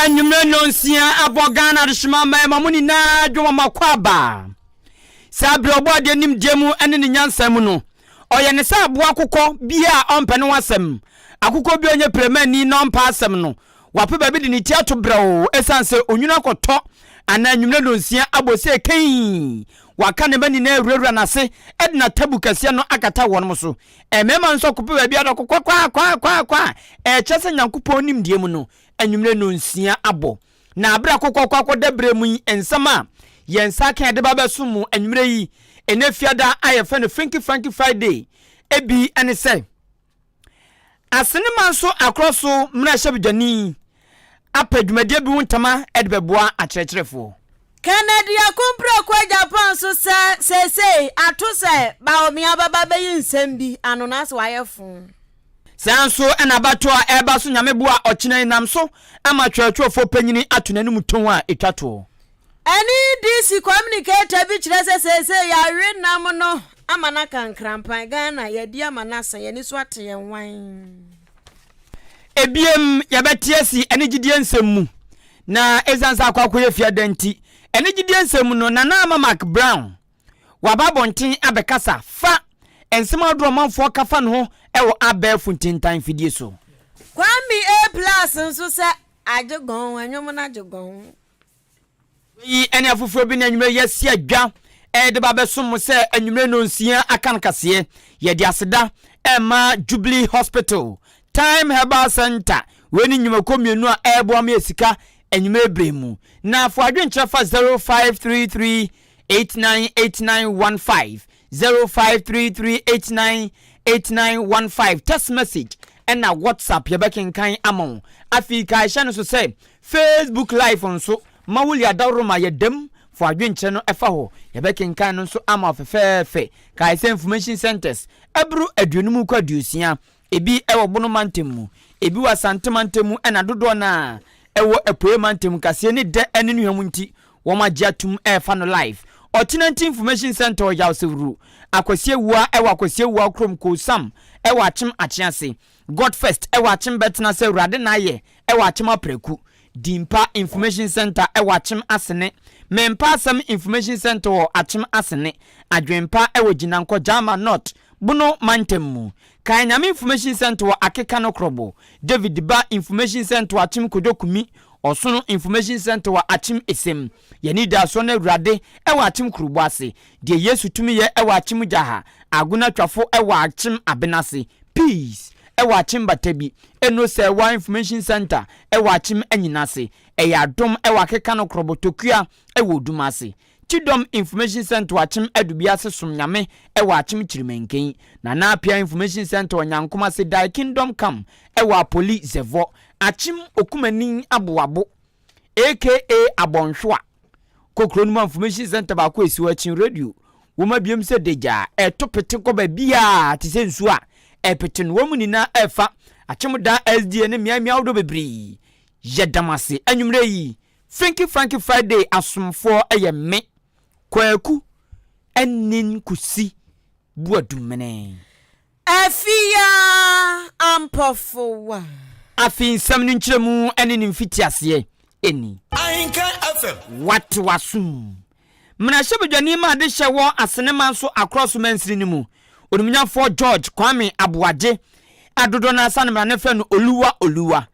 anwummerɛ nnɔnsia ɛbɔ ghana adehyema mmaa ma mo nyinaa dwom ɔma kɔ aba saa berɛ ɔbɔ adeɛ nim deɛ mu ɛne ne nyansa mu no ɔyɛ ne sɛ aboa akokɔ bia a ɔmpɛ ne ho asɛm akokɔ bi a ɔnyɛ piramani na ɔmpa asɛm no wape baabi de ne ti ato brɛoo esiane sɛ onwunu akɔtɔ anaa anwummerɛ nnɔnsia abɔ sɛ kɛnyi. Waka ne mma nyinaa awurawura n'ase de n'atabu kɛseɛ no akata wɔnom so. Mmarima nso akɔpe baabi ada kɔ kwakwaakwaakwaa a ɛkyerɛ sɛ Nyankopɔn nimdeɛ mu no, anwummerɛ nnɔnsia abɔ. Na aberɛ a kokɔkɔ akɔda berɛ mu yi, nsɛm a yɛn nsa aka a yɛde ba abɛsom mo anwummerɛ yi, ɛnnɛ Fiada a yɛfrɛ no Frinky Franky Friday bi ne sɛ, Asenneman so akorɔ so mmarahyɛbedwani apɛ dwumadie bi ho ntama de bɛboa akyerɛkyerɛfoɔ. Kennedy Akumpra kɔ Japan so sɛ seesei ato sɛ Bawumia bɛba bɛyi nsɛm bi ano nanso wayɛ foo. Saa nso na abatoɔ a ɛreba so Nyame boa ɔkyena yi nam so ama twerɛtwerɛfoɔ panyini ato n'anum tɔn a ɛtwa toɔ. NEDC communicator bi kyerɛ sɛ seesei yɛawe nam no ama no aka nkrampan. Ghana, yɛadi ama no asa, yɛn ani so ate yɛn nwan. Ebiem, yɛbɛte asi ɛne gyidie nsɛm mu. Na ɛsiane sɛ akɔ akɔyɛ fiada nti, ɛne gyidie nsɛm mu no, Nana Ama McBrown, waba abɔnten abɛkasa fa nsɛm ahodoɔ a ɔmanfoɔ ka fa ne ho wɔ abɛɛfo ntintan mfidie so. Kwame A. Plus nso sɛ, Agye gɔnn, ɛnwom no agye gɔnn. Wei ne afoforɔ bi na anwummerɛ yɛasi adwa ɛde ba bɛsom mo sɛ anwummerɛ no nsia aka no kaseɛ yɛde aseda ɛma Jubilee Hospital Time Herbal Center wei ne nnwumakuo mmienu a ɛreboa ma yɛ sika anwummerɛ berɛ mu na fo adwenkyerɛ fa 0533 898915 Zero five three three eight nine eight nine one five text message ɛna WhatsApp yɛbɛkenkan ama wo. Afei kae hyɛ no so sɛ Facebook live nso ma wo lia dawuroma yɛ dɛm fo adwenkyerɛ no ɛfa hɔ yɛbɛkenkan no nso ama wo fɛfɛɛfɛ. Kae sɛ information centres ɛboro aduonum kɔ aduosia Ebi wɔ Bono mantam mu, ebi wɔ Asante mantam mu na dodoɔ no ara ɛwɔ Apueɛ mantam mu kaseɛ ne dɛ ne nnuhwam nti wɔn agye atum refa no live. Ɔkyenanti Information Centre Ɔyaw Sewru Akwasi Awua wɔ Akwasi Awua kurom Koosam wɔ Akyem Akyease God First wɔ Akyem Bɛtenase Awurade na ayɛ wɔ Akyem Apraku Dimpa Information Centre wɔ Akyem Asene Mempa Asɛm Information Centre wɔ Akyem Asene Adwenpa wɔ Gyinankɔ Gyama North Bono mantam mu, Kan Nyame Information Centre wɔ Akeka no Krobo, David Ba Information Centre wɔ Akyem Kojo Kumi, Ɔsono Information Centre wɔ Akyem Esem, Y'anidasoɔ no Awurade wɔ Akyem Kurobo ase, Deɛ Yesu tumi yɛ wɔ Akyem Gyaha, Agona Twafo wɔ Akyem Abenase, Peace wɔ Akyem Batabi, Eno Sɛɛwa Information Centre wɔ Akyem Anyinase, Ɛyɛ Adom wɔ Akeka no Krobo, Tokua wɔ Odum ase. Kyidɔm Information Centre Akyem Adubiase Som Nyame wɔ Akyem Kyirimenken, Nana Appiah Information Centre Onyankom Ase Dae Kingdom Come wɔ Apoli Zevɔ, Akyem Okumani Aboabo aka Abɔnhwewa Kokro no mu a Information Centre baako esi hɔ Akyem Radio wom abiem sɛ Dagya a ɛto pete kɔ baabiara te sɛ nsuo a ɛpete no wɔn nyinaa ɛfa Akyem daa SDA ne mmeae mmeae ahodoɔ bebree Yɛdam ase anwummerɛ yi Finky Franky Friday asomfoɔ yɛ me, Kwaku Anin Kusi Boadumene. Afia Ampɔfowa. Afei nsɛm no nkyerɛmu ne ne mfitiaseɛ ni. Ahenka FM. Wate w'asom. Mmarahyɛbadwani ma adehyɛ wɔ Asene manso Akorɔ so mansini no mu, Onimnyamfoɔ George Kwame Aboagye, a dodoɔ no ara sa no mmara no frɛ no Oluwa Oluwa.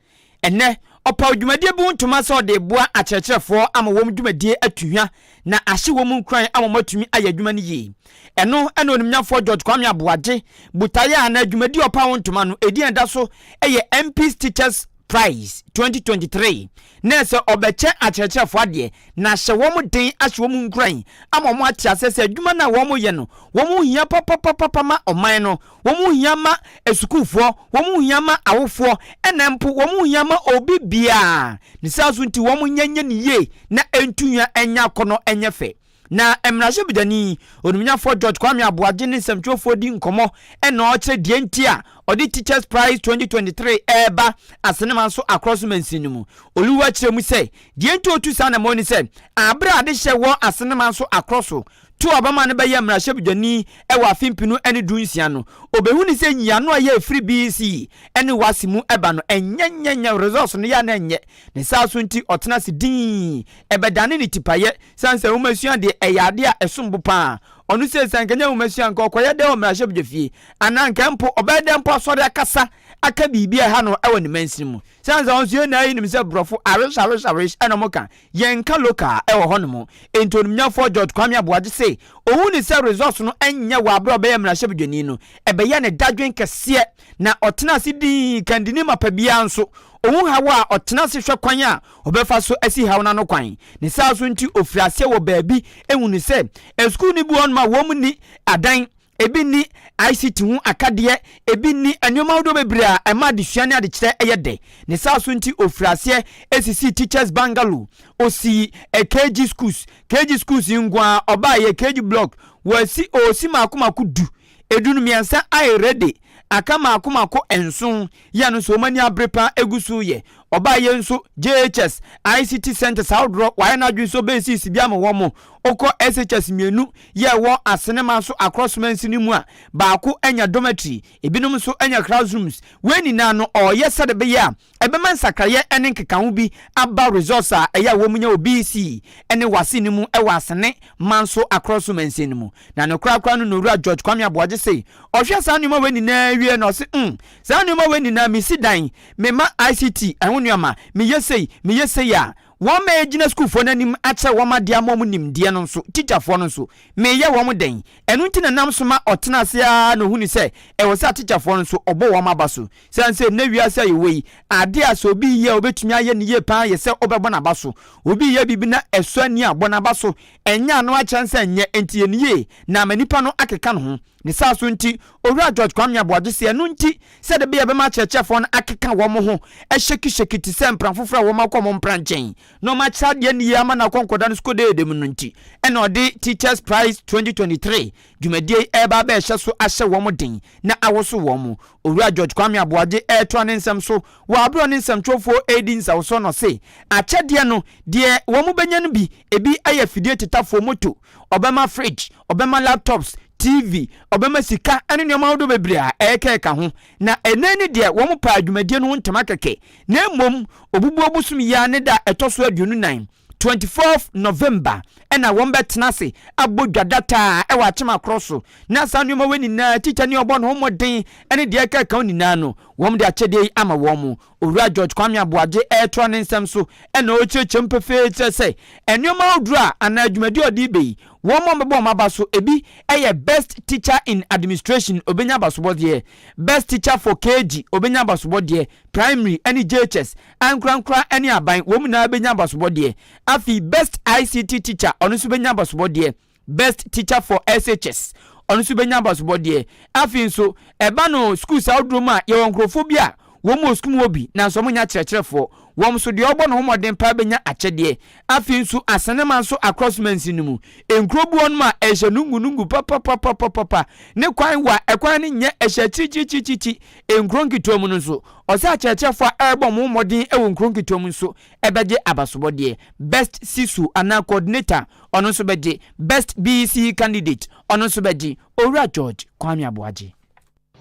Ɛnnɛ, ɔpaw dwumadie bi ho ntoma sɛ ɔde reboa akyerɛkyerɛfoɔ ama wɔn dwumadie atu hwa na ahye wɔn nkuran ama wɔatumi ayɛ adwuma no yie. Ɛno na Onimnyafoɔ George Kwame Aboagye botaeɛ a na dwumadie a ɔpaw ho ntoma no ɛdin a ɛda so yɛ MP's Teachers Prize 2023 ne sɛ ɔbɛkyɛ akyerɛkyerɛfoɔ adeɛ na ahyɛ wɔn den ahye wɔn nkuran ama wɔate aseɛ sɛ adwuma no a wɔyɛ no wɔn ho hia papapapapa ma ɔman no wɔn ho hia ma asukuufoɔ, wɔn ho hia ma awofoɔ, ɛna mpo wɔn ho hia ma obi biara. Ne saa nso nti, wɔn nyɛ nyɛ no yie na ɛntu nwa ɛnyɛ akɔnnɔ ɛnyɛ fɛ. Na mmarahyɛbadwani, Onimnyafoɔ George Kwame Aboagye ne nsɛmtwerɛfoɔ redi nkɔmmɔ ɛna ɔrekyerɛ deɛ nti a ɔde Teachers Prize 2023 reba Asenema nso akorɔ so mansin no mu. Oluwa kyerɛ mu sɛ deɛ nti ɔretu saa anammɔn ne sɛ, aberɛ a adehyɛ wɔ Asenema nso akorɔ so To a ɔbɛma no bɛyɛ mmarahyɛbedwani wɔ afe mpenu ne du nsia no, obehu ne sɛ nyiano a ɛyɛ ɛfiri BC ne WAC mu ba no ɛnyɛ nyɛ nyɛ results no yɛ a na ɛnyɛ ne saa so nti ɔtena ase dinn ɛbɛdane ne tipayɛ sane sɛ nwomasua deɛ ɛyɛ adeɛ a ɛsom bo paa ɔno sei sɛ anka ɛnyɛ nwomasua anka ɔkɔyɛ dɛ wɔ mmarahyɛbedwafie anaa anka mpo ɔbɛyɛ dɛ mpo asɔre akasa aka biribi a ɛha no wɔ ne mansini mu sane sɛ ɔnso yɛn nyinaa yɛnim sɛ borɔfo awish awish awish ɛna ɔmo ka Yɛnka local a, ɛwɔ hɔnom. Enti onimnyafoɔ George Kwame Aboagye se ɔhu no sɛ resource no nyɛ wɔ aberɛ a ɔbɛyɛɛ mmarahyɛbadwani no, ɛbɛyɛɛ ne dadwen kɛseɛ na ɔtenaa ase dii kan de ne mapa biara nso ɔhu haw a ɔtena ase hwɛ kwan a ɔbɛfa so asi haw no ano kwan. Ne saa nso nti ɔfirii aseɛ wɔ baabi hunu sɛ asukuu no bi wɔ hɔnom a wɔnni adan ebi nni ICT ho akadeɛ, ebi nni nneɛma ahodoɔ bebree a ɛma adesua ne adekyerɛ yɛ dɛ. Ne saa so nti, ɔfirii aseɛ sisii Teachers Bungalow, ɔsii KG Schools, KG Schools yi nko ara ɔbaeɛ, KG Block, wɔasi, ɔresi mmaako mmaako du, ɛduru mmiɛnsa ayɛ ready, aka mmaako mmaako nson, Yɛ no nso wɔn ani abere paa egu so yɛ. Ɔbaa yɛ nso JHS, ICT centres ahodoɔ wayɛ n'adwene sɛ ɔbɛsisi sisi bi ama wɔn. Ɔkɔ SHS mmienu yɛɛ wɔ Asenema so across mansini mu a baako anya dormitory, ebinom nso anya classrooms. Wei nyinaa no ɔɔyɛ sɛdeɛ ɛbɛyɛ a ɛbɛma nsakraeɛ ne nkekaho bi aba resource a ɛyɛ a wɔn nya wɔ BEC ne WASSCE no mu wɔ Asene man so across mansin no mu. Na ne koraa koraa no na Owura George Kwame Aboagye se Ɔhwɛ saa nnoɔma wei nyinaa wie na ɔse mm saa nnoɔma wei nyinaa mesi dan, mema ICT ɛho nnoɔma, meyɛ sei, meyɛ sei a, wɔn a ɛgyina sukuufoɔ no anim akyerɛ wɔn adeɛ ama wɔn nimdeɛ no nso, tikyafoɔ no nso, meyɛ wɔn dɛn? Ɛno nti na ɛnam so ma ɔtena ase ara na ɔhunu sɛ ɛwɔ sɛ atikyafoɔ no nso ɔbɔ wɔn aba so. Sane sɛ nnɛ wiase a yɛwɔ yi, adeɛ a sɛ obi reyɛ a ɔbɛtumi ayɛ no yie pa ara yɛ sɛ wobɛbɔ n'aba so. Obi reyɛ biribi na ɛsɔ ani a, bɔ n'aba so. Ɛnyɛ ano akyɛn sɛ ɛnyɛ, enti yɛ no yie, na ama nnipa no akeka no ho. Ne saa so nti, Owura George Kwame Aboagye se ɛno nti sɛ da bi a ɛbɛma akyerɛkyerɛfoɔ no akeka wɔn ho hyɛkihyɛki te sɛ mpena foforɔ a wɔakɔ wɔn mpena nkyɛn na wɔakyerɛ adeɛ no yie ama no akɔ nkɔda no sukuudeede mu no nti na ɔde Teachers Prize 2023 dwumadie yi reba abɛhyɛ so ahyɛ wɔn den na awoso wɔn. Owura George Kwame Aboagye retoa ne nsɛm so wɔ aberɛ a ɔne nsɛmtwerɛfoɔ redi nsɛwosoɔ no ɔse akyɛdeɛ no deɛ wɔbɛnya no bi Ebi yɛ fidie tetafoɔ, moto, ɔbɛma fridge, ɔbɛma laptops, TV, ɔbɛma sika ne nneɛma ahodoɔ bebree a ɛrekeka ho. Na ɛnnɛ ni deɛ wɔmpaa dwumadie no ho ntama kɛkɛ, na mmom obubuo bosom yi ara ne da a ɛtɔ so aduonu nan, twenty fourth November, na wɔbɛtena ase abɔ dwa dataa wɔ akyem akorɔ so. Na saa nneɛma wei nyinaa, tikya ne ɔbɔ ne ho mmɔden ne deɛ ɛkeka ho nyinaa no, wɔde akyɛdeɛ yi ama wɔn. Owura George Kwame Aboagye retoa ne nsɛm so na ɔrekyerɛkyerɛ mu pefee kyerɛ sɛ nnoɔma ahodoɔ a anaa dwumadie a ɔde reba yi, wɔn a wɔbɛbɔ wɔn aba so bi yɛ Best Teacher in Administration, ɔbɛnya abasobɔdeɛ, Best Teacher for KG, ɔbɛnya abasobɔdeɛ, Primary ne JHS, Ankorankora ne Aban, wɔn nyinaa bɛnya abasobɔdeɛ. Afei Best ICT Teacher, ɔno nso bɛnya abasobɔdeɛ. Best Teacher for SHS, ɔno nso bɛnya abasobɔdeɛ. Afei nso, ɛba no schools ahodoɔ mu a, yɛwɔ nkurɔfoɔ bi a wɔn wɔ sukuu mu wɔ bi nanso wɔn nyɛ akyerɛkyerɛfoɔ. Wɔn nso deɛ ɔbɔ ne ho mmɔden paa bɛnya akyɛdeɛ. Afei nso, Asanema nso across mansin no mu, nkuro bi wɔ nom a ɛhyɛ nungunungu papapapapapa, ne kwan wɔ a ɛkwan no nyɛ ɛhyɛ akyirikyirikyirikyiri. Nkuro nketewa mu no nso, ɔsɛ akyerɛkyerɛfoɔ a ɛrebɔ wɔn ho mmɔden wɔ nkuro nketewa mu nso bɛgye abasobɔdeɛ. Best CSO anaa Coordinator Ɔno nso bɛgye Best BEC Candidate, ɔno nso bɛgye Owura George Kwame Aboagye.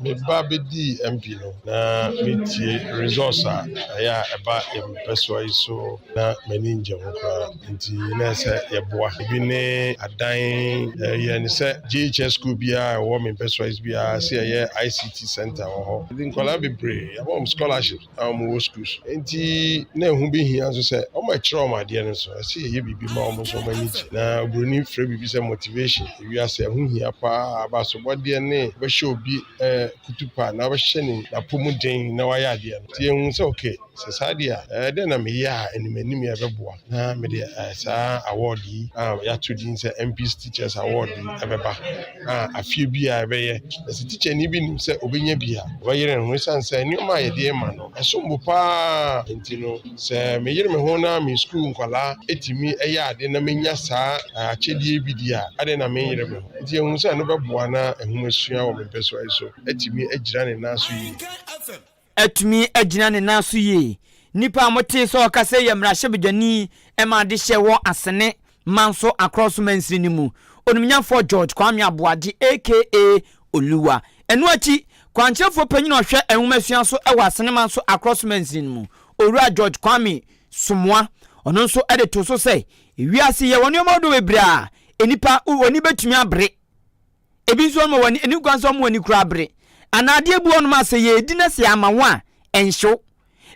Me ba bɛdii MP no, na metie results a ɛyɛ a ɛba yɛn mpɛsoa yi so na m'ani ngye ho koraa nti na ɛyɛ sɛ yɛboa. Ebi ne adan, yɛyɛ no sɛ JHS school biara a ɛwɔ me mpɛsoa yi so biara sɛ yɛyɛ ICT centre wɔ hɔ. Yɛde nkwadaa bebree, yɛama wɔn scholarships. na wɔwɔ sukuu so nti na ɛho bɛhia nso sɛ wɔkyerɛ wɔn adeɛ no so ɛsɛ yɛyɛ biribi ma wɔn nso wɔn ani gye na oburoni frɛ biribi sɛ motivation ewiase ɛho hia paa abasobɔdeɛ ne bɛhyɛ obi ɛɛ kutupa na bɛhyɛ ne n'apɔmuden na wayɛ adeɛ no nti ehu sɛ okay sɛ saa deɛ a ɛɛ dɛn na meyɛ a anim anim yɛ bɛboa na mede ɛɛ saa award yi a yɛato din sɛ MPs teachers award yi ɛbɛba. a afeɛ biara ɛbɛyɛ. Na sɛ tikyani bi nim sɛ ɔbɛnya bi a, ɔbɛyere ne ho ɛsiane sɛ nneɛma a yɛde rema no, ɛsom bo pa ara nti no. Sɛ meyere me ho na me sukuu nkwadaa tumi yɛ adeɛ na menya saa akyɛdeɛ yi bi di a, adɛn na menyere me ho? Nti yɛhunu sɛ ɛno bɛboa na nhomasua wɔ me mpɛsoa yi so atumi agyina ne nan so yie. atumi agyina ne nan so yie. Nnipa a wɔtee sɛ ɔkasa yi yɛ mmarahyɛbadwani ma adehyeɛ wɔ Asene manso Akorɔ so mansini no mu, Onimnyafoɔ George Kwame Aboagye aka Oluwa. Ɛno akyi, Kwankyerɛfoɔ Panyin a ɔhwɛ Nwomasua so wɔ Asene manso Akorɔ so mansini no mu, Owura George Kwame Somoa, ɔno nso de too so sɛ, Wiase yi yɛwɔ nneɛma ahodoɔ bebree a nnipa ani bɛtumi abere, Ebi nso wɔma wɔn ani kwan sɛ wɔn ani kura bere. Anaa adeɛ bi wɔ nom a sɛ yɛredi na sɛ yɛama ho a, ɛnhyew.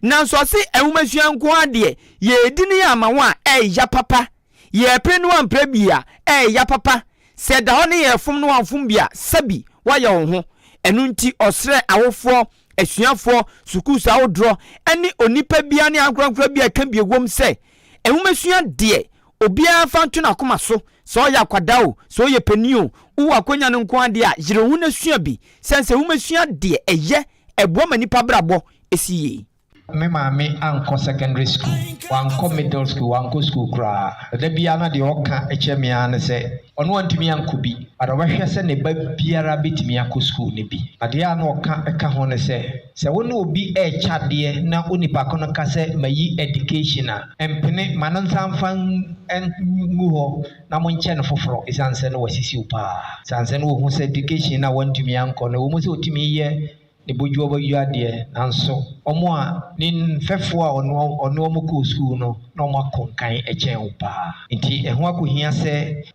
Nanso ɔse nwomasua nko ara deɛ, yɛredi ne yɛama ho a, ɛreya papa. Yɛrepere ne woampere bi a, ɛreya papa. Sɛ ɛda hɔ ne yɛrefom ne woamfom bi a, sɛbi woayɛ wo ho. Ɛno nti ɔsrɛ awofoɔ, asuafoɔ, sukuus ahodoɔ, ne onipa biara ne ankorankora biara a ɛka bi wom sɛ nwomasua deɛ, Obiara mfa nto n'akoma so, sɛ ɔyɛ akwadaa o, sɛ ɔyɛ panin o, wowɔ akwannya no nko ara deɛ a, yere ho na sua bi. Sane sɛ womasua deɛ ɛyɛ, ɛboa ma nnipa abrabɔ si yie. Me maame ankɔ secondary school, wankɔ middle school, wankɔ school koraa. Da biara na deɛ ɔka kyerɛ me ara ne sɛ. Ɔno antumi ankɔ bi, but ɔbɛhwɛ sɛ ne ba biara bɛtumi akɔ sukuu no bi. Adeɛ a na ɔka ka ho ne sɛ, sɛ wo ne obi rekyɛ adeɛ na onipa ko no ka sɛ mayi education a, mpene, ma no nsa mfa ngu hɔ na monkyɛ no foforɔ ɛsiane sɛ na wasisi wo paa. Ɛsiane sɛ na ɔhu sɛ education no a wantumi ankɔ no, ɛwɔ mu sɛ ɔtumi yɛ ne bodwoɔbɔdwo adeɛ nanso wɔn a ne mfɛfoɔ a ɔne wɔn ɔne wɔn kɔɔ sukuu no na wɔn akonkan kyɛn wo paa nti ɛho akɔhia sɛ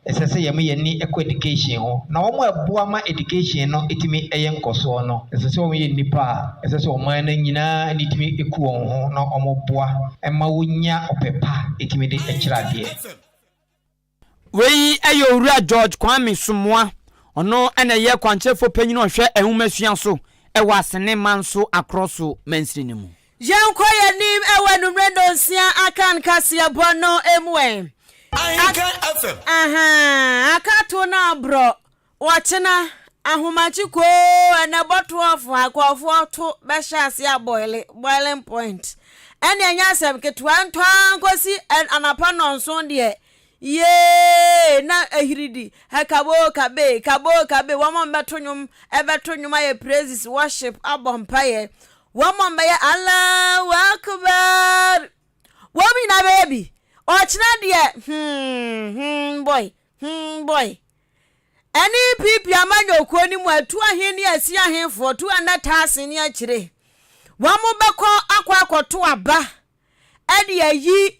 ɛsɛ sɛ yɛn yɛn ni kɔ education ho na wɔn a ɛboa ma education no tumi yɛ nkɔsoɔ no ɛsɛ sɛ wɔn yɛ nnipa a ɛsɛ sɛ ɔman no nyinaa ne tumi ku wɔn ho na wɔn boa ɛma wɔnya ɔpɛ pa ɛtumi de kyerɛ adeɛ. Wei yɛ Owura George Kwame Somoa, ɔno na ɛyɛ kwankyerɛfoɔ panyin a ɔhwɛ nwomasua so wɔ Asene manso Akorɔ so mansini no mu. Yɛnkɔ yɛn anim wɔ anwummerɛ nnɔnsia aka no kaseɛbɔ no mu ɛ. Ahenka FM. Ahaa, aka to no aborɔ. Wɔkyena ahomagye koo ɛna bɔtoɔfo akɔɔfoɔ to bɛhyɛ ase abɔile, boiling point. Ɛne ɛnyɛ asɛm ketewa ntɔ ara nkosi anapa nnɔnson deɛ yeeeee na ahiridi hɛ kaboo kabee, kaboo kabee, wɔn a wɔbɛto nnwom ɛbɛto nnwom ayɛ praises, worship, abɔ mpaeɛ, wɔn a wɔbɛyɛ Allahu Akbar, wɔn nyinaa bɛyɛ bi. Ɔkyena deɛ hmm hmm boy. Hmm boy. Ɛne EPP amanyɔkuo no mu atu ahe ne asi ahefoɔ tu ɛnɛ taase ne akyire. Wɔn bɛkɔ akɔ akɔto aba ɛde ayi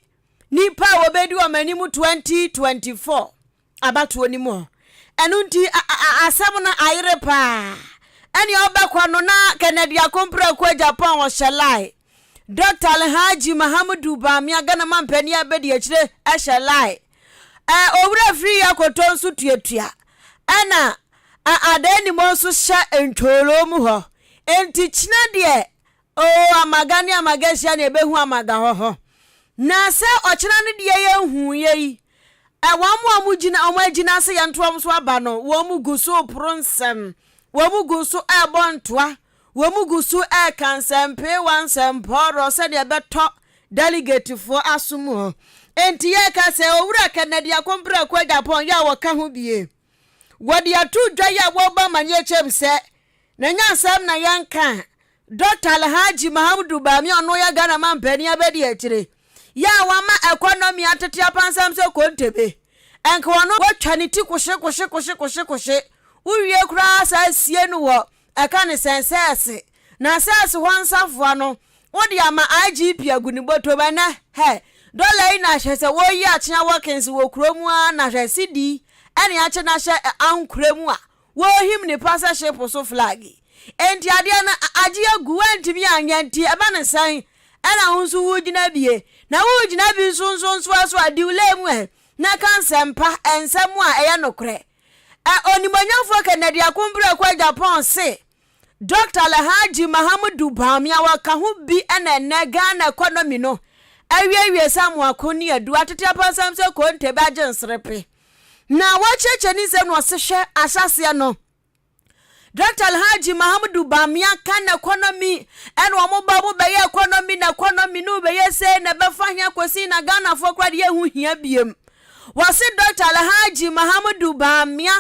nipa a wɔbɛdi wɔn anim 2024 abatoɔ no mu hɔ. Ɛno nti asɛm no ayere paa. Ɛne ɔbɛkɔ no na Kennedy Akompra Kuo Japan ɔhyɛ lie. Dɔkta Alhaji Mahamudu Bamia, Ghana Manpanin Abadiakyire hyɛ lie. Ɛ, Owura Afiri Yi Akoto nso tuatua. Ɛna Ɛ, Adaanimɔ nso hyɛ Ntwoloo mu hɔ. Enti kyena deɛ, oo, Amaga ne Amaga hyia na yɛbɛhu Amaga hɔ hɔ. Na sɛ ɔkyena no deɛ yɛnhuuiɛ yi, Ɛ, wɔn a wɔn gyina, wɔn agyina sɛ yɛnto wɔn so aba no, wɔn gu so reporo nsɛm. Wɔn gu so rebɔ ntoa Wɔgu so reka nsɛmpeewa nsɛmpɔɔrɔ sɛdeɛ ɛbɛtɔ dɛligetefoɔ asom hɔ. Enti yɛreka sɛ, Owura Kennedy Akompere Prako Agyapong yɛ a wɔka ho bie. Wɔde ato dwa yi a wɔrebɔ amanneɛ kyɛm sɛ, na ɛnyɛ asɛm na yɛnka a, Dɔkta Alhaji Mahamudu Bami a ɔno yɛ Ghana mampanin abadiakyire yi a wama ɛkɔnɔmi atete apansam sɛ kontebe, anka ɔno wɔatwa ne ti koshekoshekoshekoshekoshe wowie koraa saa asie no wɔ Ɛka ne sɛn sɛ ɛse, Na sɛ ɛse hɔ nsafoa no, wode ama IGP agu ne bɔtɔm ɛnɛ, hɛ, dɔla yi na hwɛ sɛ wɔreyi akyea wɔkins wɔ kuro mu ara na hwɛ sidi yi ɛne akyɛ na hyɛ ɛ ankorɛ mu a wɔrehim ne pa sɛ ship so flag yi. Enti adeɛ no agye agu, woantumi anyɛ nti ɛba ne sɛn ɛna wo nso woregyina bie na woregyina bi nsonsonsoɔ so a, di wo lɛ mu ɛ na ka nsɛmpa, nsɛm a ɛyɛ nokorɛ. Ɛ Onimuonyamfoɔ Kennedy Akombrɛ Kwaa Agyapong se Dɔkta Alhaji Mahamudu Bawumia wɔ ka ho bi na ɛnnɛ Ghana ɛkɔnɔmi no awiewie sɛ amoako ne aduru atete apansam sɛ konte bɛagye nserepe na wɔakyeakyea ne nsam na ɔse hwɛ ahyɛaseɛ no Doctor Alhaji Mahamudu Bamia kan economy ɛna wɔn ba wɔn bɛyɛ economy na economy no bɛyɛ sɛ na ɛbɛfa hia kɔsi na Ghanafoɔ koraa deɛ ɛho hia biem. Wɔse Doctor Alhaji Mahamudu Bamia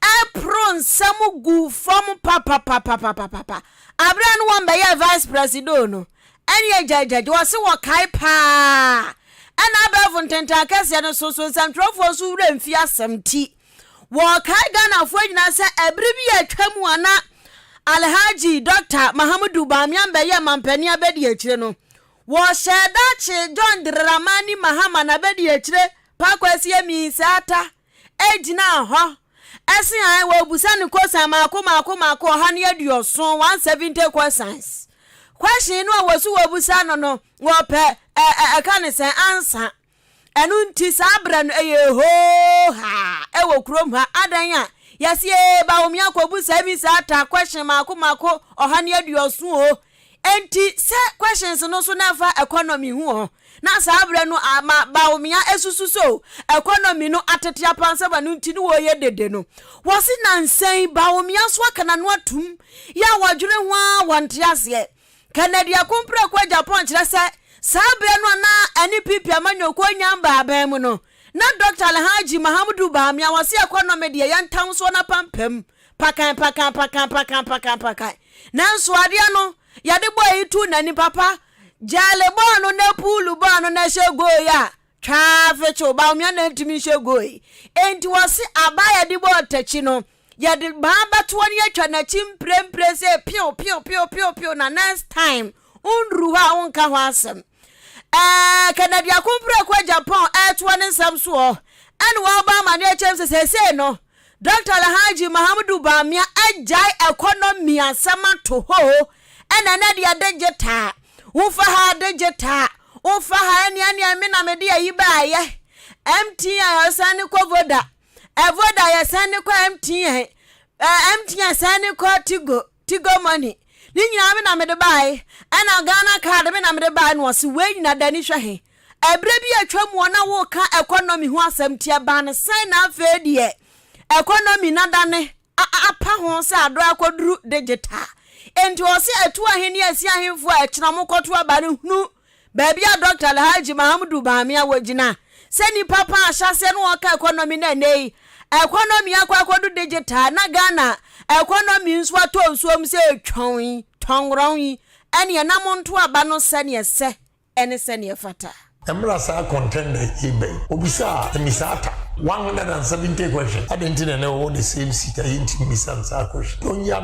ɛporo nsɛm gu fam papapapapapapa. Aberɛ no wɔn bɛyɛ vice presido no ɛne agyagyagy wɔse wɔkae paa ɛna abɛɛfo ntentan akɛseɛ no so so nsɛmtwerɛfoɔ nso wura mfi asɛm ti. Wɔkae Ghanafoɔ nyinaa sɛ ɛbere bi a atwa mu a na Alhaji Dɔkta Mahamudu Bawumia Mbɛyɛ Mampanin Abɛdiakyire no, wɔhyɛɛ da kyee John Dramani Mahama na Abɛdiakyire Pa Kwasi Aminsah Atta gyinaa hɔ se ae wɔbusa no kosan maako maako maako ɔha ne aduɔson, 170 questions. Question no a wɔse wɔbusa no no, wɔpɛ ɛka ne sɛn? Answer. Ɛno nti, saa berɛ no ɛyɛɛ hoohaa wɔ kurom ha, adɛn a, yɛse ee Bawumia akɔbu saa visa ata question mmaako mmaako ɔha ne aduɔson o. Enti sɛ questions no nso na ɛfa economy ho ɔ, na saa berɛ no ama Bawumia asusu sɛ o economy no atete apansam ɛno nti na wɔreyɛ dede no. Wɔse nansa yi Bawumia nso aka n'ano atom, yɛ a wɔdwene ho ara wɔnte aseɛ. Kennedy ako mprako a Japan kyerɛ sɛ saa berɛ no a na NPP amanyɔkuo nya mbaaban mu no, na Dɔkta Alhaji Mahamudu Bawumia wɔ se ɛkɔ nnɔme deɛ yɛ ntansoɔ no apampam pakan pakan pakan pakan pakan pakan. Nanso adeɛ no yɛde bɔɔ yi too n'anim papa, Gyale bɔɔ no na Puulu bɔɔ no na ɛhyɛ goal yi a Twaa fekyew baomea na entumi nhyɛ goe. Enti wɔse aba a yɛde bɔ ɔtakyi no, yɛde ma abatoɔ no yɛtwa n'akyi mprempren sɛ pew pew pew pew pew na next time wonduru hɔ a wonka ho asɛm. Ɛɛ Kennedy Akompreko a Japan ɛretoa ne nsɛm soɔ ɛna ɔrebɔ amaneɛ kyerɛ me sɛ seesei no, Dɔkta Alhaji Mahamudu Bamia agyae ɛkɔnɔmi asɛm ato hɔ o, ɛna ɛnɛ deɛ digital, wo fa ha digital, wo fa ha ɛnea ɛnea emi na mede ayi baayɛ, MTN ɔsan ne kɔ Voda, ɛvoda yɛsan ne kɔ MTN, ɛɛ MTN san ne kɔ Tigo, Tigo money ne nyinaa me na mede bae ɛna Ghana card me na mede bae na ɔse wei nyina dani hwɛ he ɛberɛ bi atwa mu ɔna woka economy ho asɛm ti ɛbaa ne sɛn na afei deɛ economy na dane apa ho sɛ adɔ akɔduru digital enti ɔse ɛtu ahe ne ɛsi ahenfoɔ a ɛkyena ɔmo kɔto aba no hunu Baabi a Dɔkta Alhaji Mahamudu Bami a wogyina sɛ nipa pa a ahyɛaseɛ no ɔka economy na ɛnnɛ yi economy akɔ akɔdu digital na Ghana economy nso atɔ nsuo mu sɛ twɔn yi, tɔngrɔn yi, ɛneɛ na monto aba no sɛneɛ ɛsɛ ɛne sɛneɛ ɛfata. Ɛmmra saa contender yi bɛn? Obisaa Emisata one hundred and seventy questions, adɛn nti na ɛnnɛ ɔwɔ the same seat a yɛntumi mmisa no saa questions? Ɔnyia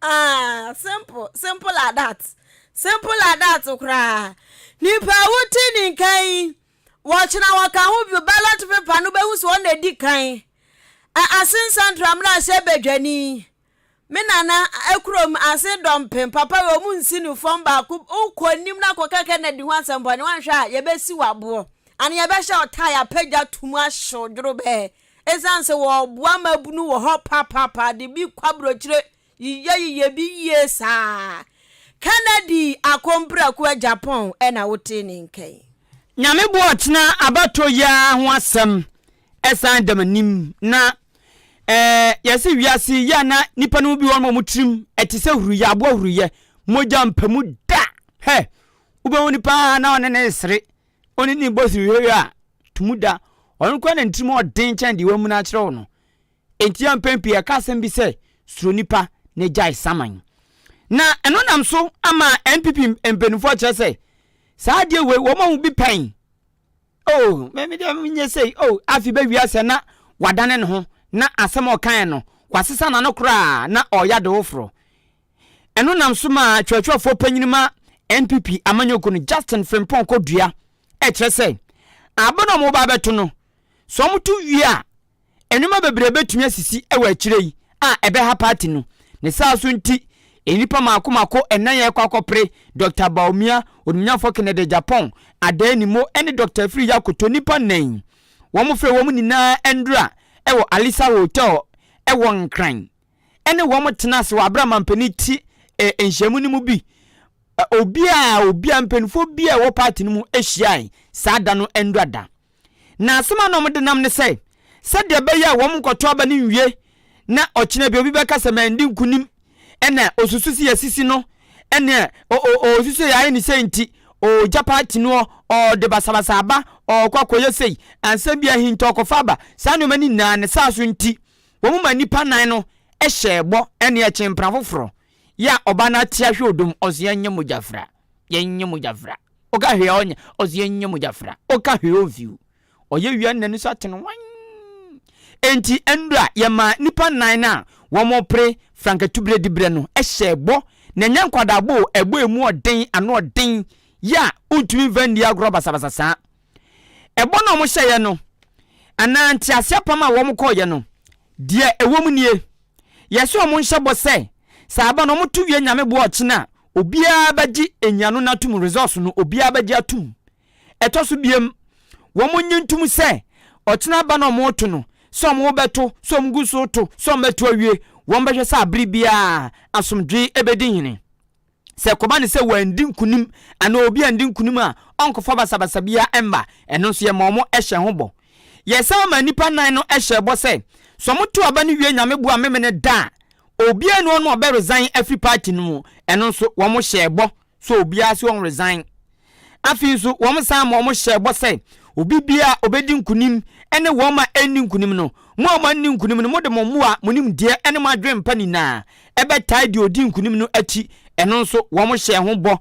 Ah, simple, simple like that. Simple like that koraa. Nipa a wote ne nka yi, wɔkyena wɔka ho bio ballot paper no bɛhu sɛ ɔna adi kan. Ase nsantra mmerɛ ahyɛ badwani. Me nana akurom ase dɔmpem papa wɔ mu nsi no fam baako wokɔ anim na kɔka Kennedy ho asɛmpɔ ne wanhwɛ a yɛbɛsi wɔ aboɔ. Ane yɛbɛhyɛ ɔtaa yɛapagya to mu ahyɛ odworo bɛɛ. Esiane sɛ wɔboa mmabunu wɔ hɔ papaapa de bi kɔ aburokyire yiyɛyiyɛ bi yie saa. Kennedy Akomprako a Japan na wotee ne nka yi. Nyame boa ɔkyena abatoɔ yi ara ho asɛm san da m'anim na eh yɛse wiase yi yɛ a na nipa no mu bi wɔ hɔ nom a wɔn tirim ɛte sɛ huruyɛ aboa huruyɛ mogya mpamu da hɛ wobɛhu nipa na ɔne ne resere Ɔne ne bɔ siri hwɛhwɛ a, to mu da. Ɔno koraa na ne tirim yɛ den kyɛn deɛ wɔamuna akyerɛ wo no. Enti a mpɛn pii yɛka asɛm bi sɛ, Suro nnipa na gyae saman. Na ɛno nam so ama NPP mpanimfoɔ akyerɛ sɛ, saa adeɛ wei wɔma mu bi pɛn. Oh, me me deɛ menyɛ sei, oh, afei bɛwie asɛ na wadane ne ho na asɛm a ɔkaeɛ no, wasesa n'ano koraa na ɔreyɛ adewoforɔ. Ɛno nam so maa twerɛtwerɛfoɔ panyin ma NPP amanyɔkuo no, Justin Frimpong Kodua, kyerɛ sɛ, aba no a wɔreba abɛto no, sɛ wɔto wie a, nneɛma bebree bɛtumi asisi wɔ akyire yi a ɛbɛha party no. Ne saa nso nti, nnipa mako mako nnan a ɛrekɔ akɔpere Dɔkta Bawumia, onimnyamfoɔ Kennedy Agyapong, Adah Animo ne Dɔkta Afiri Yakoto, nnipa nnan yi, wɔfrɛɛ wɔn nyinaa nnura wɔ Alisa Hotel wɔ Nkran. ne wɔn tena ase wɔ abere a mampanin te eh, nhyiamu no mu bi. Eh, obiara obiara mpanimfoɔ biara ɛwɔ paati no mu hyiae saa da no ndura da. Na asɛm a na wɔn de nam ne sɛ sɛdeɛ ɛbɛyɛ a wɔn nkɔto aba no nwie na ɔkyena bi obi bɛka sɛ mandi nkunim ɛna osusu si asisi no ɛna osusu yɛ ayɛ ne sɛ nti ɔgya paati no ɔde basabasa aba ɔkɔ akɔyɛ sei ansa bi ahinta ɔkɔfa aba saa nneɛma no nyinaa ne saa so nti Wɔn ma nnipa nnan no hyɛɛ bɔ ne ɛkyen mpena foforɔ yɛ a ɔba no ate ahwɛ odum ɔse yɛnyɛ mogya fra yɛnyɛ mogya fra ɔka hwee a ɔnyɛ ɔse yɛnyɛ mogya fra ɔka hwee ɔmfiw ɔyɛ wie a n'ani so atene wan enti nnura yɛmaa nnipa nnan no a wɔpere frankatubere diberɛ no hyɛɛ bɔ na ɛnyɛ nkwadaa bɔ o ɛbɔ emu ɔden ano ɔden yɛ a wontumi mfa nni agorɔ basabasa saa Ɛbɔ no a wɔhyɛeɛ no, anaa nteaseɛ apam a wɔkɔeɛ no, deɛ ɛwɔ mu nie, Yɛhyɛ wɔn nhyɛ bɔ sɛ, sɛ aba no wɔto wie Nyame boa ɔkyena a, obiara bɛgye nyiano no atom, resource no, obiara bɛgye atom. Ɛtɔ so biom, wɔnye ntom sɛ, ɔkyena aba no a wɔreto no, sɛ wɔrebɛto, sɛ wɔgu so reto, sɛ wɔbɛto awie, wɔbɛhwɛ sɛ abere biara asomdwoe bɛdi hene. Sɛ ɛkɔba no sɛ wɔandi nkonim anaa obi andi nkonim a, ɔnkɔfa basabasa biara mma. Ɛno nso, yɛma wɔhyɛ ho bɔ. Yɛsan maa nnipa nnan no hyɛɛ bɔ sɛ, sɛ wɔtow aba no wie Nyame boa Memeneda da a, obiara nni hɔ no a ɔbɛ resign afiri party no mu. Ɛno nso, wɔhyɛɛ bɔ sɛ obiara so ɔnresign. Afei nso, wɔsan ma wɔhyɛɛ bɔ sɛ, Obi biara a obedi nkonim ne wɔn a anni nkonim no, mo a moanni nkonim no, mode mo mmoa, mo nimdeɛ ne mo adwene pa nyinaa bɛtaa deɛ ɔdii nkonim no akyi. Ɛno nso, wɔhyɛɛ ho bɔ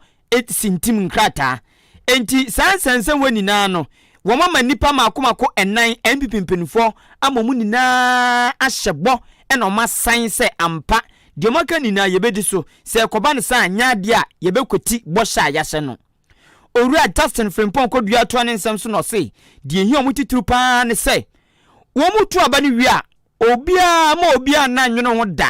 sintim nkrataa. Enti saa nsɛnsɛmma nyinaa no, Wɔama nnipa mako mako nnan, NPP mpanyimfo ama wɔn nyinaa ahyɛ bɔ na wɔasan sɛ ampa deɛ wɔaka nyinaa yɛbɛdi so, sɛ ɛkɔba no saa a nyɛ adeɛ a yɛbɛkwati bɔhyɛ a yɛahyɛ no. Owura Justin Frimpong Koduah toa ne nsɛm so na ɔse deɛ ɛhia wɔn titiriw pa ara ne sɛ wɔtu aba no wie a obiara mma obiara nna nnwene ho da,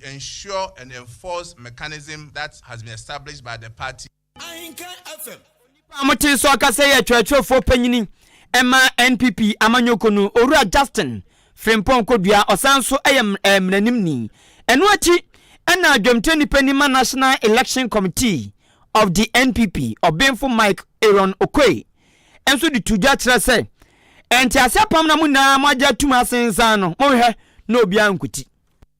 to ensure and enforce mechanism that has been established by the party. Ahinka FM. Onipa a mote nso ɔkasa yɛ twerɛtwerɛfoɔ panyini ma NPP amanyɔkuo no Owura Justin Frimpong Kodua, ɔsan nso yɛ mmaranimni. Ɛno akyi na dwamtirani panin ma National Election Committee of the NPP, Ɔbenfo Mike Aaron Okoe nso de to dwa kyerɛ sɛ ntease apam na mo nyinaa moagye atum asensan no monhwɛ na obiara nkuti.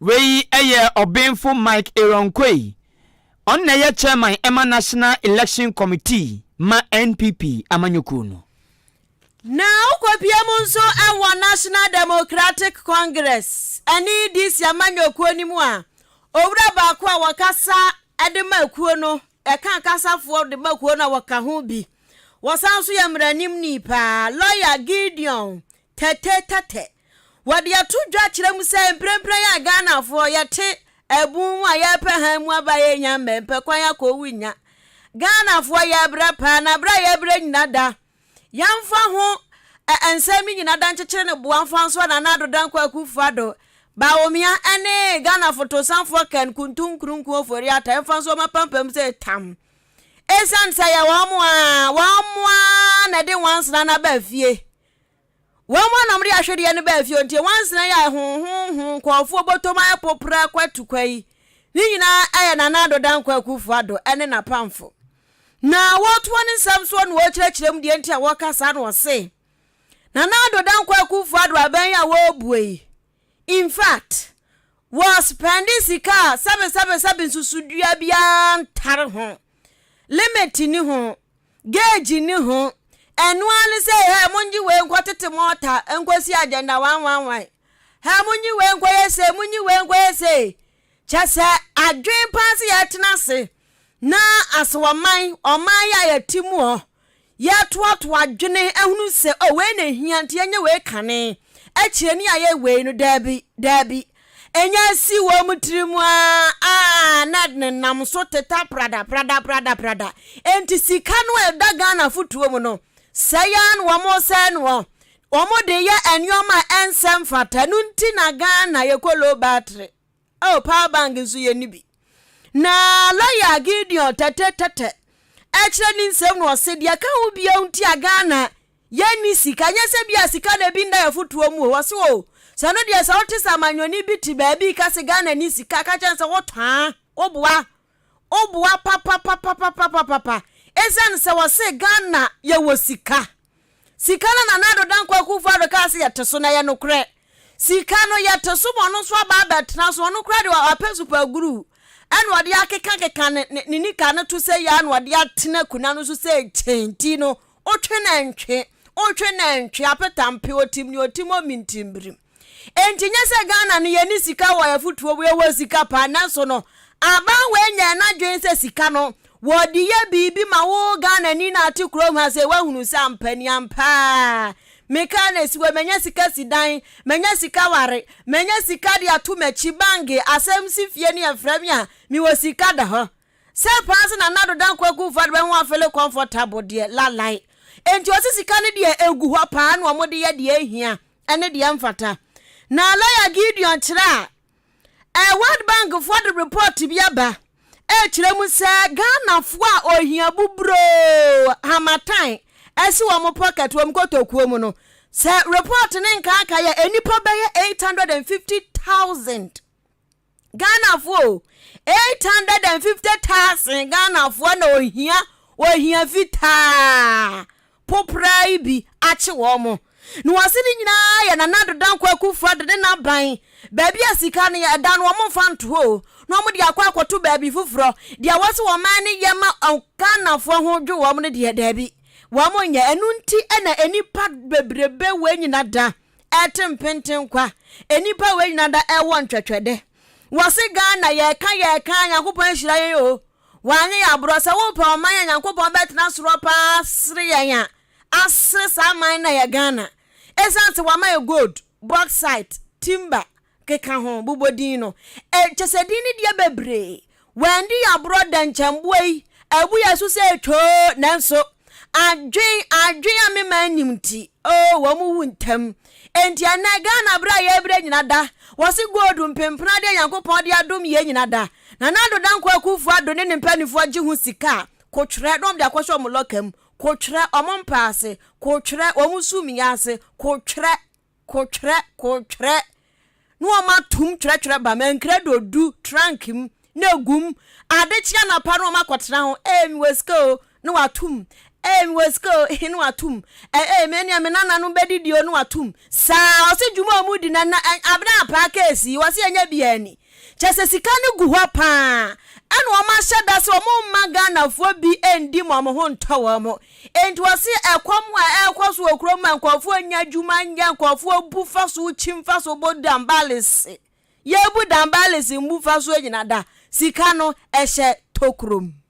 Wei yɛ Ɔbenfo Mike Irongkoi, ɔno na ɛyɛ chairman ma National Election Committee ma NPP amanyɔkuo no. Na ɔkɔpie mu nso wɔ National Democratic Congress ne DC amanyɔkuo no mu a owura baako a wɔkasa de ma kuo no, ɛka akasafoɔ de ma kuo no a wɔka ho bi. Wɔsan nso yɛ mmaranimni paa, lawyer Gideon Tɛtɛtɛtɛ. Wɔde ato dwa kyerɛ mu sɛ mprempren a Ghanafoɔ yɛte abun mu a yɛrepɛ hann mu aba a yɛnnya mmɛ mpɛ kwan akɔ owu nnya. Ghanafoɔ yɛrebrɛ paa na brɛ a yɛrebrɛ nyina da. Yɛmfa ho ɛ nsɛm no nyina da nkyekyere no boa mfa nsoa Nana Addo Dankwa Akufo-Addo, Bawumia, ɛne Ghana Fotosanfoɔ Ken Kuntum Nkrunku Ofori-Atta ɛmfa nsoa wɔn apampam sɛ tam. Ɛsiane sɛ ɛyɛ wɔn ara wɔn ara na ɛde nwansena no aba fie. Wɔn anom de ahwedeɛ no baa fie hɔ nti nwansena yi a ɛhonhonhon nkurɔfoɔ bɔtɔ mu ayɛ popra kwatukwa yi ne nyinaa yɛ Nana Addo Dankwa Akuffo Addo ne n'apamfo. Na wɔtoa ne nsɛm soɔ na wɔkyerɛkyerɛ mu deɛ nti a wɔka saa na wɔse, Nana Addo Dankwa Akuffo Addo aban yi a wɔrebue yi in fact wɔ spɛnde sika a sɛbesɛbesɛbe nsusudua biara ntare ho, limit nni ho. Gauge nni ho. Ɛno ara ne sɛ, hɛ, monnye wei nkɔtete mo ɔta nkɔsi agenda wanwanwan. Hɛ, monnye wei nkɔyɛ sei, monnye wei nkɔyɛ sei. Kyɛ sɛ adwene paa sɛ yɛtena ase na asɛ ɔman, ɔman yɛ a yɛte mu hɔ, yɛtoatoa adwene ahunu sɛ, o wei na ɛhia nti yɛnyɛ wei kane, akyire ne yɛayɛ wei no. Daabi, daabi. Enya si wɔn tirim aa na nenam so teta prada prada prada prada. Enti sika no a ɛda Ghanafo tuom no, sɛe ara na wɔresɛe no hɔ. Wɔde yɛ nneɛma a ɛnsɛ mfata. Ɛno nti na Ghana yɛkɔ low battery. Oh, power bank nso yɛnni bi. Na lɔya Gideon tɛtɛtɛtɛ ɛkyerɛ ne nsɛm na ɔse deɛ ɛka ho biara nti a Ghana Yɛnni sika. Ɛnyɛ sɛ ebia sika na ebi nna yɛn afotuo mu o. Ɔse oo, sɛ ɛno deɛ sɛ wote sɛ amanyɔni bi te baabi reka sɛ Ghana nni sika a, ka kyerɛ no sɛ wotɔ a, woboa. Woboa papapapapapapapa. Esiane sɛ wɔse Ghana yɛwɔ sika. Sika no Nana Addo Dankwa Akuffo Addo kaa sɛ yɛte so no, ɛyɛ nokorɛ. Sika no yɛte so ma ɔno nso aba abɛtena so. Ɔno koraa deɛ wapɛ supaguru ɛna ɔde akekakeka ne ne nika no to sɛ yei ara na ɔde atena akonnwa no so sɛ kyɛnti no Otwe nantwi, otwe nantwi, apetampe, otim ne otim omintimbirim. Enti nyɛ sɛ Ghana no yɛne sika wɔ afutuo wei wɔ sika paa nanso no aban wei nyɛɛ n'adwene sɛ sika no wɔde yɛ biribi ma wo Ghanani na ate kurom ha sɛ wahunu sɛ ampa ni ampaa mekaa na ɛsi wɔ manya sika si dan manya sika ware manya sika de ato m'akyi bange asɛm si fie ne ɛfrɛ me a mewɔ sika da hɔ Sɛ paa se na Nado Dan Kwaku Fad bɛ ho afele comfortable deɛ la lie. Enti ɔse sika no deɛ egu hɔ paa na ɔmo de yɛ deɛ ehia ɛne deɛ ɛnfata. Na lawyer Gideon kyerɛ a ɛɛ World Bank foɔ de report bi aba ɛɛkyerɛ mu sɛ Ghana foɔ a ohia bu broo hamatan ɛsi wɔn pocket, wɔn kotokuo mu no, sɛ report no nkaakaeɛ a nnipa bɛyɛ eight hundred and fifty thousand. Ghanafoɔ o, 850,000 Ghanafoɔ na ohia ohia fitaa popraa yi bi akye wɔn mo. Na wɔse ne nyinaa yɛ Nana Addo Dankwa Akufo Addo ne n'aban. Baabi a sika no yɛ da no wɔn mfa nto hɔ o, na wɔn de akɔ akɔto baabi foforɔ. Deɛ wɔse wɔn man no yɛ ma Ghanafoɔ ho dwo wɔn no deɛ, daabi, wɔn nyɛ. Ɛno nti na nnipa bebrebe wei nyina da. ɛte mpenten kwa nnipa wei nyina da ɛwɔ ntwɛtwɛdɛ wɔse Ghana yɛka yɛka Nyankopɔn ahyira yɛn o wɔanye yɛ aborɔ sɛ wopɛ ɔman a Nyankopɔn bɛtena sorɔ paa sere yɛn a asere saa man na yɛ Ghana ɛsiane sɛ wɔama yɛ gold bauxite timber keka ho bobɔ din no, ɛ, kyɛ sɛ din no deɛ bebree. Wɔandi aborɔ da nkyɛnboa yi, abu yɛn so sɛ twoo, nanso adwen, adwen a mema anim nti, oh, wɔn wu ntɛm. Enti ɛnnɛ, Ghana berɛ a yɛrebrɛ nyina da, wɔse gold mpempena adeɛ a Nyankopɔn de adom yɛn nyina da. Nana Addo Dankwa Akuffo Addo ne ne mpanimfoɔ gye ho sika a, kotwerɛ, na wɔde akɔhyɛ wɔn lɔka mu, kotwerɛ, wɔn mpaase, kotwerɛ, wɔn sumii ase, kotwerɛ. Kotwerɛ, kotwerɛ, ne wɔn atom twerɛtwerɛ ba mankira de odu trunk mu na egu mu. Ade kye anapa na wɔn akɔtena ho, ee mewɔ sika o, na watom. Ee mewɔ sika o, na watom. Ee me nea me nananom bɛdidi o, na watom. Saa, ɔse dwuma a wɔn redi no, ɛnna abena apaa case yi, ɔse ɛnyɛ biara ni. Kyerɛ sɛ sika no gu hɔ paa ɛna wɔn ahyɛ da sɛ wɔn mma Ghanafoɔ bi ndi ma wɔn ho ntɔ wɔn. Enti wɔse ɛkɔm a ɛrekɔ so wɔ kurom ma nkurɔfoɔ nnya adwuma nyɛ, nkurɔfoɔ bu fasuo, kyi mfasuo, bɔ dambalese. Yɛbu dambalese mbu fasuo nyina da, sika no ɛhyɛ tokuro mu.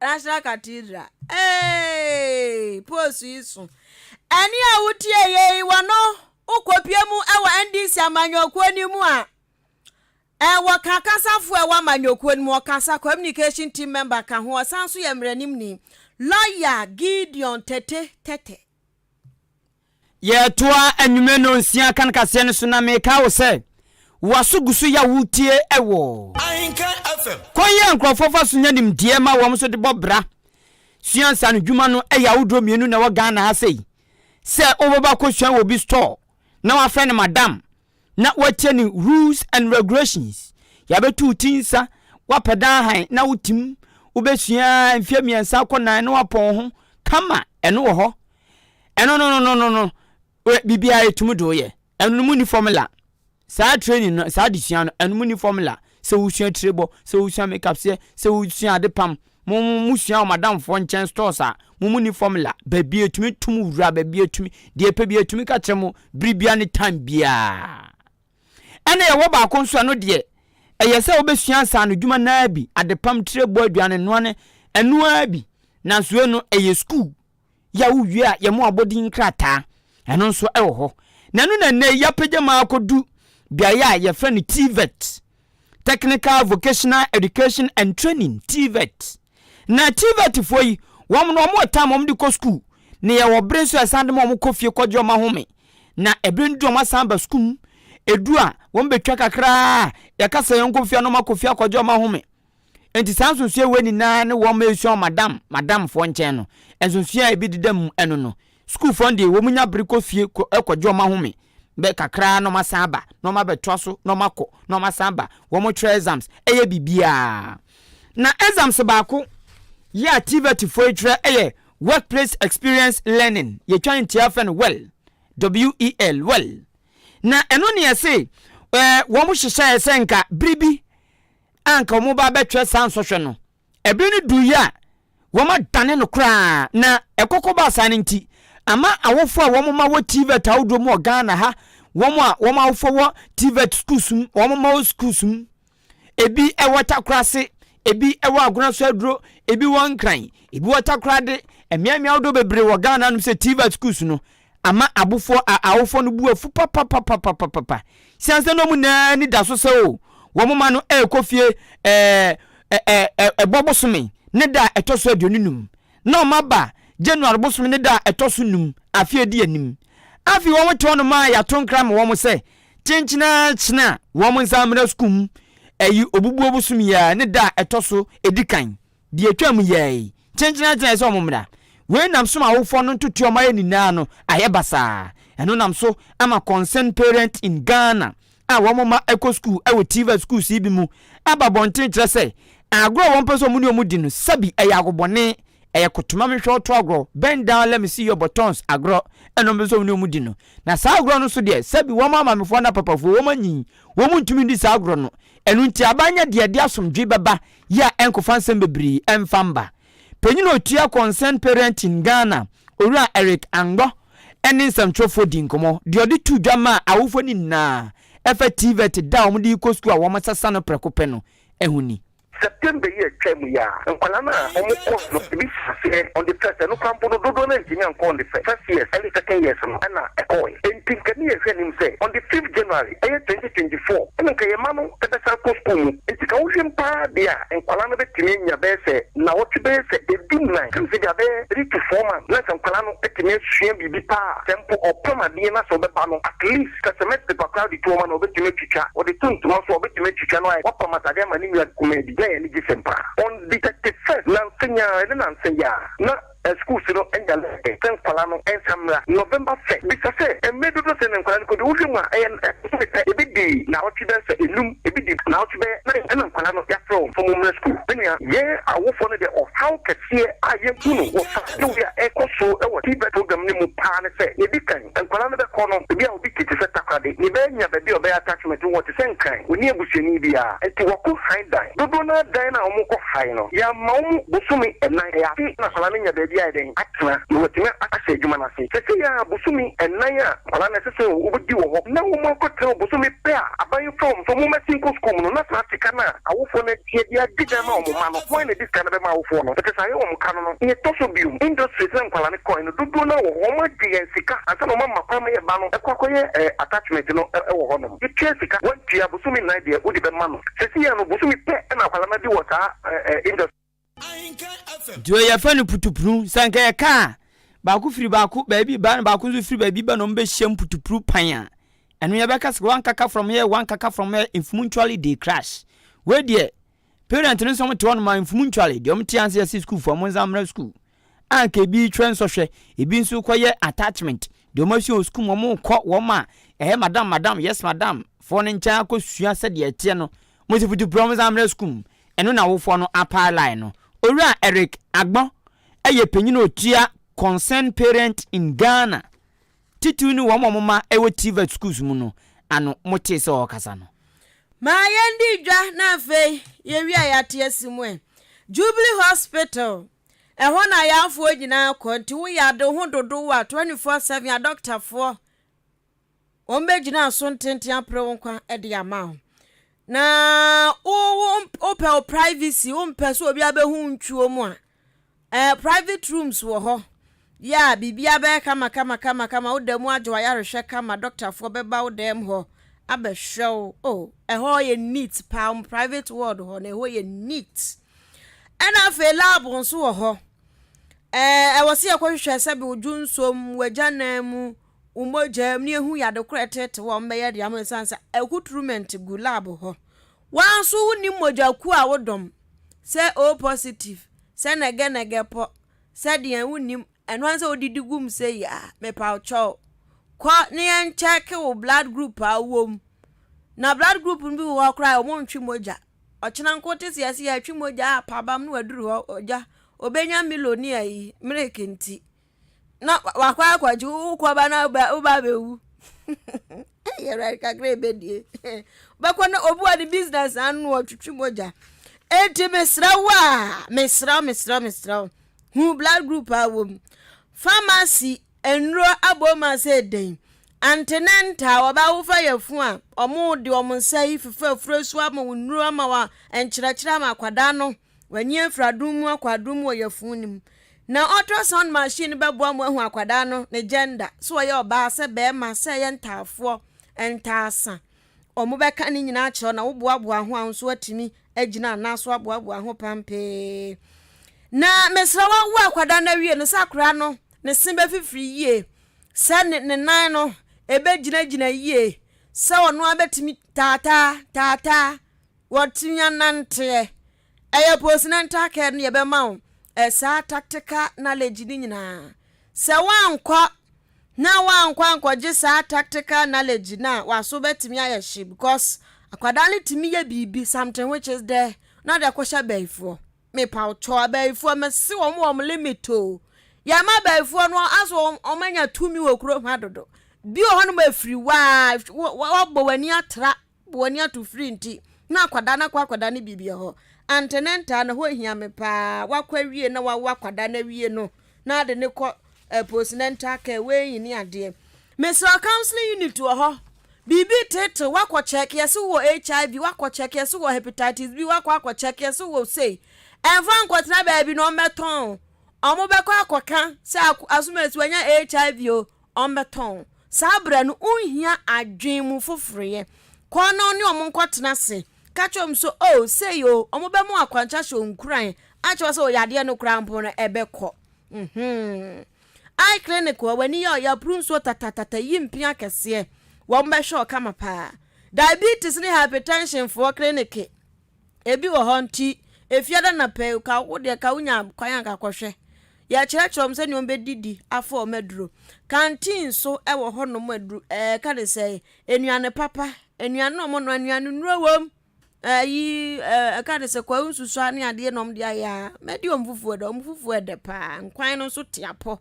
National Cathedral. Hey, post yi so. Ɛne a wotie yei wɔ no wokɔpie mu wɔ NDC amanyɔkuo no mu a ɛwɔ ka kasafoɔ ɛwɔ amanyɔkuo no mu ɔkasa communication team member ka ho ɔsan so yɛ mmaranimni lɔya Gideon Tete Tete Yɛretoa anwummerɛ no nsia kan kaseɛ no so na meka wo sɛ waso gu so ya wotie ɛwɔ kwan yi a nkurɔfoɔ fa so nya nimdeɛ ma wɔn so de bɔ bra sua nsa no dwuma no ɛyɛ ahodoɔ mmienu na ɛwɔ Ghana ha sei sɛ wobɛba kɔsua wɔ bi store na wafrɛ no madam na woatia ne rules and regulations yɛabɛto wo ti nsa woapɛ dan hann na wotim wobɛsua mfeɛ mmiɛnsa akɔ nan na woapɔn wo ho kama ɛno wɔ hɔ ɛno no no no no no wɛ- biribiara ɛtumi de woyɛ ɛno no mu ni formula saa training no saa adesua no ɛno mu ni formula sɛ wosua tire bɔ, sɛ wosua makeup seɛ, sɛ wosua ade pam, mo mo sua wɔ madamfoɔ nkyɛn stores a, mo mo ni formula, baabi a etumi to mo wura, baabi a etumi, deɛ epɛ bi etumi ka kyerɛ mo bere biara ne time biara. Ɛna yɛwɔ baako nso ɛno deɛ, ɛyɛ sɛ wobɛsua nsaano dwuma naa bi, adepam, tire bɔ, aduane noa ne ɛnoa bi, nanso eno ɛyɛ school. yi a wowie a yɛn abɔdin nkrataa, ɛno nso wɔ hɔ. Na ɛno na nnɛ yi yɛapagya mu akɔdu beaeɛ a yɛfrɛ no TVET, Technical Vocational Education and Training, TVET. Na TVET foɔ yi, wɔn no wɔn wɔ time wɔn de kɔ sukuu, na yɛwɔ bere nso a yɛsan de ma wɔn kɔ fie kɔgye wɔn ahome. Na ɛbere no du wɔn asan ba sukuu mu, ɛdu a wɔn bɛtwa kakra a yɛkasa yɛn nkɔ fie a na wɔn akɔ fie akɔgye wɔn ahome. Enti saa nsonsoɛ wei nyinaa ne wɔn ma ɛsua wɔ madam, madamfoɔ nkyɛn no. Nsonsoɛ a ɛbi deda mu ɛno no, sukuufoɔ no deɛ wɔn nya bere kɔ fie kɔ ɛkɔ gye wɔn ahome bɛ kakra na wɔn asan aba na wɔn abɛtoa so na wɔn akɔ na wɔn asan aba, wɔn twerɛ exams, ɛyɛ biribiara. Na exams baako yɛ a TVET foɔ yi twerɛ ɛyɛ Workplace Experience Learning, yɛtwa no ntiaa fɛ no well, W-E-L, well. Na ɛno ne yɛse ɛɛ wɔn hyehyɛɛ sɛ nka bere bi a anka wɔba abɛkyerɛ saa nsɔhwɛ no, ɛbere no duiɛ a wɔadane no koraa, na ɛkɔkɔ baa saa no nti, ama awofoɔ a wɔma wɔ TVET ahodoɔ mu wɔ Ghana ha, wɔn a wɔn awofoɔ wɔ TVET schools mu, wɔn ma wɔ schools mu, ebi wɔ Takorase, ebi wɔ Agonaso Aduro, ebi wɔ Nkran, ebi wɔ Takorade, mmeammea ahodoɔ bebree wɔ Ghana nom sɛ TVET schools no, Ama abofoɔ a awofoɔ no bu afu papapapapapapa siane sɛ na wɔn nyinaa ani da so sɛ o, wɔn mma no rekɔ fie Ɛbɔ bosome ne da a ɛtɔ so aduonu nnum. Na wɔn aba January bosome ne da a ɛtɔ so nnum afe a edi anim. Afei wɔte hɔ nom a yɛato nkra ama wɔn sɛ kyenkyene ara kyene a wɔn nsa mmra sukuu mu, ɛyi obubuo bosome yi ara ne da a ɛtɔ so edi kan. Deɛ ɛtwaam yɛɛe, kyenkyena gyinae sɛ wɔn mmra. Wei nam so ma awofoɔ no ntotoɛ a wɔn ayɛ nyinaa no ayɛ basaa. Ɛno nam so ama Concerned Parents in Ghana a wɔn mma kɔ sukuu wɔ TVET sukuus yi bi mu aba abɔnten kyerɛ sɛ agorɔ a wɔmpɛ sɛ wɔn ne wɔn di no sɛbi ɛyɛ agobɔne, ɛyɛ kotoma me hwɛ wo to agorɔ, bend down let me see your buttons agorɔ na wɔmpɛ sɛ wɔn ne wɔn di no. Na saa agorɔ no nso deɛ sɛbi wɔn amaamefoɔ ne apapafoɔ wɔn anyin, wɔn ntumi ndi saa agorɔ no. Ɛno nti aban nyɛ deɛ ɛde asomdwoe bɛba yi a ɛnkɔfa nsɛm bebree mfa mma. Panyin a otua Concerned Parenting Ghana, Owura Eric Angbɔ ne nsɛmtwerɛfoɔ dii nkɔmmɔ. Deɛ ɔde too dwa maa awofoɔ no nyinaa ɛfa TVET da a wɔde rekɔ sukuu a wɔsesa no prɛko pɛ no ho ni. September yi a ɛtwaam yi a nkwadaa no a wɔn course no ebi hyɛ aseɛ on the first ɛno koraa mpo no dodoɔ no antumi ankɔ on the first years ɛne second years no na ɛkɔɔɛ enti nka ne yɛhwɛ anim sɛ on the fifth January ɛyɛ twenty twenty four ɛna nka yɛn mma no bɛsan kɔ sukuu mu nti ka wohwɛ mu paa deɛ a nkwadaa no bɛtumi anya bɛyɛ sɛ nnawɔtwe bɛyɛ sɛ ɛdu nnan ka no sɛ bia bɛyɛ three to four months na sɛ nkwadaa no atumi asua biribi paa sɛ mpo ɔpam adeɛ na sɛ ɔbɛba no at least ka cement paper koraa de to ɔma no ɔbɛtumi atwitwa ɔde to ntoma nso a ɔbɛtumi atwitwa na wayɛ wapam atadeɛ ama ne nua kumaa bi na yɛn ani gye sɛm paa on the thirty first nansa nyaa ɛne nansa yi a na. Ɛsukuusu no nya lɛɛsɛn sɛ nkwadaa no nsa mmra November fɛ. Bisa sɛ, Mmere dodoɔ sɛn na nkwadaa no kɔdi? Wohwɛ mu a, ɛyɛ nnɛ bosome pɛ? Ebi di naawɔtwe bɛsɛ enum, ebi di naawɔtwe bɛyɛ nan. Ɛna nkwadaa no yɛafrɛ wɔn sɛ wɔmmra sukuu. Me nua, yɛn awofoɔ no deɛ ɔhaw kɛseɛ a yɛahu no wɔ saa dawuro yi a ɛrekɔ so wɔ TVET program no mu paa ne sɛ, yɛdi kan, nkwadaa no bɛkɔ no, ebi a obi te te sɛ takoradi na ebenya baabi a ɔbɛyɛ attachment wɔ te sɛ Nkran, onni abusuani biara nti wɔkɔ han dan. Dodoɔ no ara dan no a wɔkɔ han no, yɛama wɔn bosome nnan, ɛyɛ afe na akwadaa no nya baabi ayɛ dɛn? atena na watumi ahyɛ adwuma no ase. Seesei ara bosome nnan a nkwadaa no ɛsɛ sɛ wɔdi wɔ hɔ na wɔakɔtena hɔ bosome pɛ a aban yi frɛ wɔn sɛ wɔmmɛsen nkɔ sukuu mu no na saa sika no a awofoɔ no atua de adi dan ma wɔn mma no, hwan na adi sika no bɛma awofoɔ no? Ɛte saa yɛ wɔn ka no no, nea ɛtɔ so bio, industries na nkwadaa no kɔe no, dodoɔ no ara wɔ hɔ. Wɔn agye yɛn sika ansa na wɔn ama kwan ma yɛn ba no kɔ akɔyɛ attachment no wɔ hɔ nom. Yɛtua sika, wɔntua, bosome nnan deɛ wode bɛma no. Seesei no bosome pɛ na akwadaa no adi wɔ saa industry. Deɛ yɛfrɛ no putupru, sɛ anka yɛ kaa a, baako firi baako baabi ba na baako nso firi baabi ba na wɔn bɛhyiam putupru pan a, ɛno yɛbɛka sɛ one kaka from here, one kaka from here, mfumu ntuale dey crash. Wei deɛ, Parent no nso wɔn te hɔ nom a mfumu ntware deɛ wɔn te ase ɛsi school fo a wɔn nsa mmra school a nka ebi twɛ nsɔhwɛ ebi nso kɔ yɛ attachment deɛ wɔn asua wɔ school mu wɔn kɔ wɔn a ɛyɛ madam madam yes madam foɔ no nkyɛn akɔ sua sɛ deɛ ɛteɛ no wɔn si futu pira wɔn nsa mmra school mu ɛno na awofoɔ no apaa line no owura Eric Agbon ɛyɛ panyin otua concerned parent in Ghana. Titiriw ne wɔn a wɔma ɛwɔ TVET schools mu no ano motee sɛ ɔrekasa no. Ma yɛndi dwa na afei yɛwie a yɛate asi mu ɛ. Jubilee Hospital, ɛhɔ na ayarfoɔ nyinaa kɔ nti wo yɛ ade wo ho dodow a, 24 seven adɔktafoɔ wɔn bɛgyina aso ntenten apere wo nkwa de ama wo. Na wo wo wopɛ wo privacy, wompɛ sɛ obiara bɛhu wo ntwuo mu a, Ɛɛ private rooms wɔ hɔ. Yea, biribiara bɛyɛ kama kama kama kama, wo da mu adwo ayarehwɛ kama, dɔktafoɔ bɛba wo dan mu hɔ abɛhwɛ wo. Oh, ɛhɔ yɛ neat paa, wɔn private ward hɔ no, ɛhɔ yɛ neat. Ɛna afei lab nso wɔ hɔ. Ɛɛ ɛwɔ sɛ yɛkɔhwehwɛ sɛbe wo dwonsɔ mu, w'agyanan mu, wo mogya mu, na yɛhu yɛ ade korɔ a ɛtete wo a wɔbɛyɛ de ama wo ɛsiane sɛ accoutrement gu lab hɔ. Woaa nso wo nim mogya kuo a wo dɔm sɛ O positive sɛ nɛgɛ nɛgɛ pɔ sɛ deɛn wo nim ɛno ara sɛ wo didi gu mu sɛ yi a mepaw kyɛw kɔ ne yɛn kyɛke wo blood group a wo wɔ mu na blood group no bi wɔ hɔ koraa a ɔmo ntwe mogya ɔkyena nko te sɛ yɛse yɛtwe mogya a pabam no aduru hɔ ogya obenya milo ne ayi milk nti na wakɔ akɔgye wo kɔba na woba woba abɛwu ɛyɛ awurade kakra ɛbɛdie bɛkɔ na obi wɔ ne business ano ɔtwitwi mogya enti mesrɛ wo a mesrɛ wo mesrɛ wo mesrɛ wo hu blood group a wɔ mu pharmacy nnuro abom ase ɛdɛn antenenta a wɔbɛwofa yɛ fo a wɔn de wɔn nsa yi fefa afuro so ama wo nnuro ama wa nkyerɛkyerɛ ama akwadaa no W'ani afura adum mu akɔ adum mu wɔ yafun no mu. Na ultrasound machine no bɛboa mo ahu akwadaa no ne gender, sɛ ɔyɛ ɔbaa, sɛ bɛrima, sɛ ɛyɛ ntaafoɔ, ntaasa. Ɔmo bɛka ne nyinaa akyerɛ wo na wo boaboa ho a wo nso atumi agyina anaa so aboaboa ho pampee. Na mesrɛ wo wo akwadaa no awie no sɛ akwadaa no ne se bɛfifiri yie, sɛ ne ne nan no ɛbɛgyinagyina yie, sɛ ɔno ara bɛtumi taataa taataa. wɔtumi ananteɛ. Ɛyɛ postnatal care no yɛbɛma wo eh, saa tactical knowledge no nyinaa. Sɛ woankɔ na woankɔ ankɔgye saa tactical knowledge no a, w'aso bɛtumi ayɛ hye because akwadaa no tumi yɛ biribi something which is there na ɔde akɔhyɛ abayifoɔ. Mepa wo kyɛw abayifoɔ mese wɔn wɔ wɔn limit o. Yɛma abayifoɔ no aso wɔn wɔn anya tumi wɔ kurom ha dodo. Bi wɔ hɔnom afiri waa wɔabɔ w'ani atra Bu w'ani ato firi nti na akwadaa no akɔ akwadaa no biribi hɔ antenentaa na hɔ hia me paa wakɔ awie na wawo akwadaa no awie no na ade ne kɔ eh, postnatal care wei ne adeɛ mesrɛ counseling unit wɔ hɔ biribi tete wakɔ kyɛk yɛse wɔ hiv wakɔ kyɛk yɛse wɔ hepatitis bi wakɔ akɔ kyɛk yɛse wɔ sei ɛmfa nkɔtena baabi na ɔmmɛtɔn ɔmobɛkɔ akɔka sɛ asomasi wanya hiv o ɔmbɛtɔn wo. Saa berɛ no, wonhia adwen mu foforoyɛ. Kɔ na ɔne wɔn nkɔtena ase. Ka kyerɛ wɔn sɛ, Oh, sei o, wɔbɛma wo akwankyerɛ sɛ nkuran a kyerɛ sɛ wo yadeɛ no koraa mpo no ɛbɛkɔ. Mm-hmm. Eye clinic hɔ, w'ani yɛ ɔyɛ puru nsuo tatatata, yi mpea akɛseɛ. Wɔbɛhwɛ wo kama paa. Diabetes ne hypertension foɔ clinic. Ebi wɔ hɔ nti, efiada na pɛ yi, ka wo deɛ ka wonya kwan a ka kɔhwɛ. Yɛkyerɛkyerɛ wɔn sɛnea wɔbɛdidi afa wɔn aduro. Canteen nso wɔ hɔnom a aduru ɛɛ yɛka no sɛ nnuane papa, nnuane a wɔnoa, nnuane nnuro wom, ɛyi ɛɛ yɛka no sɛ kwawu nsusua ne adeɛ na wɔde ayɛ a, mɛdi wɔn fufuo dɛ, wɔn fufuo yɛ dɛ paa, nkwan no nso te apɔ.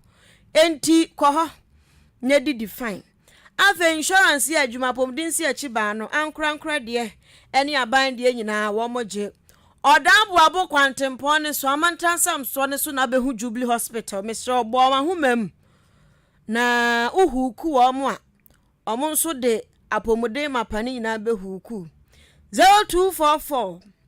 Enti kɔ hɔ na didi fine. Afei insurance yɛ adwuma apomuden si akyi baa no ankorankorɛ deɛ ɛne aban deɛ nyinaa wɔn gye. Ɔda aboabo kwantempɔn ne so amantansam soɔ no so na abɛhu Jubilee hospital mesrɛ wo bɔ wahoma mu na wo huuku wɔn a wɔn nso de apomuden mapa no nyinaa bɛ huuku 0244.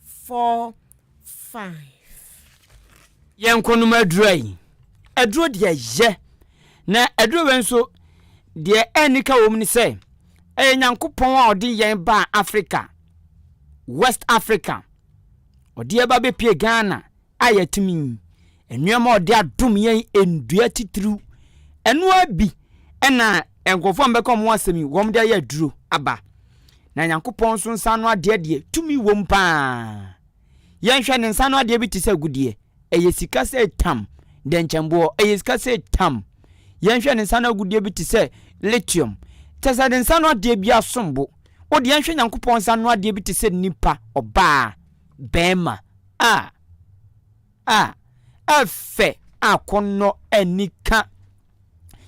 four five. Yɛn nkɔnom aduru ayi. Aduro deɛ yɛ. Na aduro wei nso deɛ ɛnni ka wɔm ne sɛ ɛyɛ Nyankopɔn a ɔde yɛn baa Africa, West Africa. Ɔde yɛn ba bɛpie Ghana, a yɛatumi nneɛma a ɔde adom yɛn nnua titiriw. Ɛno ara bi na nkurɔfoɔ a wɔbɛka wɔn asɛm yi, wɔde ayɛ aduro aba. Na Nyankopɔn nso nsa ano adeɛ deɛ, tumi wom paa. Yɛnhwɛ ne nsa ano adeɛ bi te sɛ agudeɛ. Ɛyɛ sika sɛ tam, dɛnkyɛmboɔ, ɛyɛ sika sɛ tam. Yɛnhwɛ ne nsa ano agudeɛ bi te sɛ lithium. Kyɛ sɛ ne nsa ano adeɛ bi asom bo. Wo deɛ yɛnhwɛ Nyankopɔn nsa ano adeɛ bi te sɛ nipa, ɔbaa. barima a a ɛfɛ a kɔnnɔ ani ka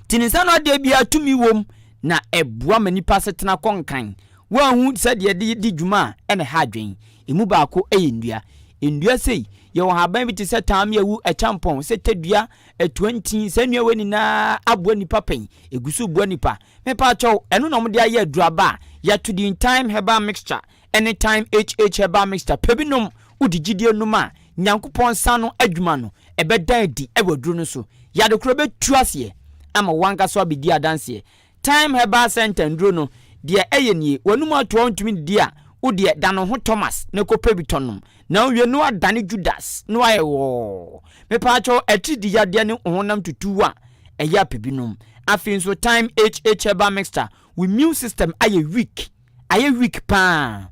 tinisa no adeɛ biara tumi wom na ɛboa ma nipa asetena kɔ nkan wɔahu sɛdeɛ ɛde di dwuma a ɛna ha adwen ɛmu baako yɛ nnua nnua sei yɛwɔ haban bi te sɛ taame awu ɛkyampɔn sɛ tadua atuantin saa nnua wɔ nyinaa aboa nipa pɛn ɛgu so boa nipa mepa kyɛw ɛno na wɔde ayɛ aduraba a yɛto din time herbal mixture Anytime HH herbal mixture pɛ bi nom wo de gyidie nom a Nyankopɔn nsa ano adwuma no ɛbɛda adi wɔ aduro no so yade korɔ bɛtu aseɛ ama wo ankasa wabɛdi adanseɛ Time herbal center nnuro no deɛ ɛyɛ nie w'anum ato a wontumi nnidi a wo deɛ da no ho Thomas na kɔ pɛ bi tɔ nom na wowie no woadane Judas na woayɛ wɔɔ mepaakyɛw atrid yadeɛ ne honam tutuw a ɛyɛ a pɛ bi nom afei nso Time HH herbal mixture wo immune system ayɛ weak ayɛ weak paa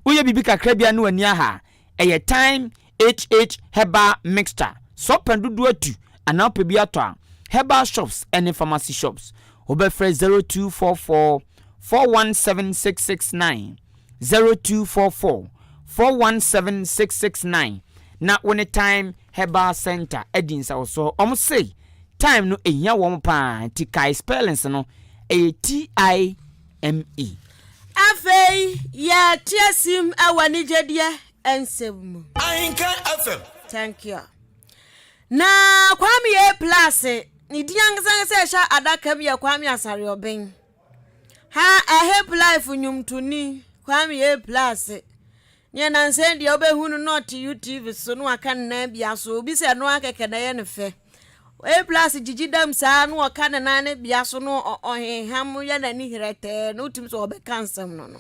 woyɛ biribi kakra bi a na w'ani aha ɛyɛ time HH herbal mixture sɛ wopɛ dodoɔ atu anaa wopɛ bi atɔ a herbal shops ɛne pharmacy shops wobɛfrɛ 0244 417669 0244 417669 na wo ne time herbal center adi nsawɔsɔ wɔn se time no ehia wɔn paa nti kae spellings no ɛyɛ TI ME. Afei yɛ teaseam wɔ anigyedie nsɛm mu. Ahinka FM. Thank you. Na Kwame A. Plase, ne din ankasa ankasa a ɛhyɛ adaka mu yɛ Kwame Asare-Ɔben. Ha, A Hip Life nnwomtoni, Kwame A. Plase, Nea nnansa yi deɛ wobɛhu no na ɔte UTV so na waka ne nan bia so, obi sɛ ɛno ara kɛkɛ na ɛyɛ no fɛ. A plus gyigyi dam saa na ɔka ne nan no bia so no ɔhenham yɛ n'ani herɛtɛɛ na wotumi sɛ ɔbɛka nsɛm no no.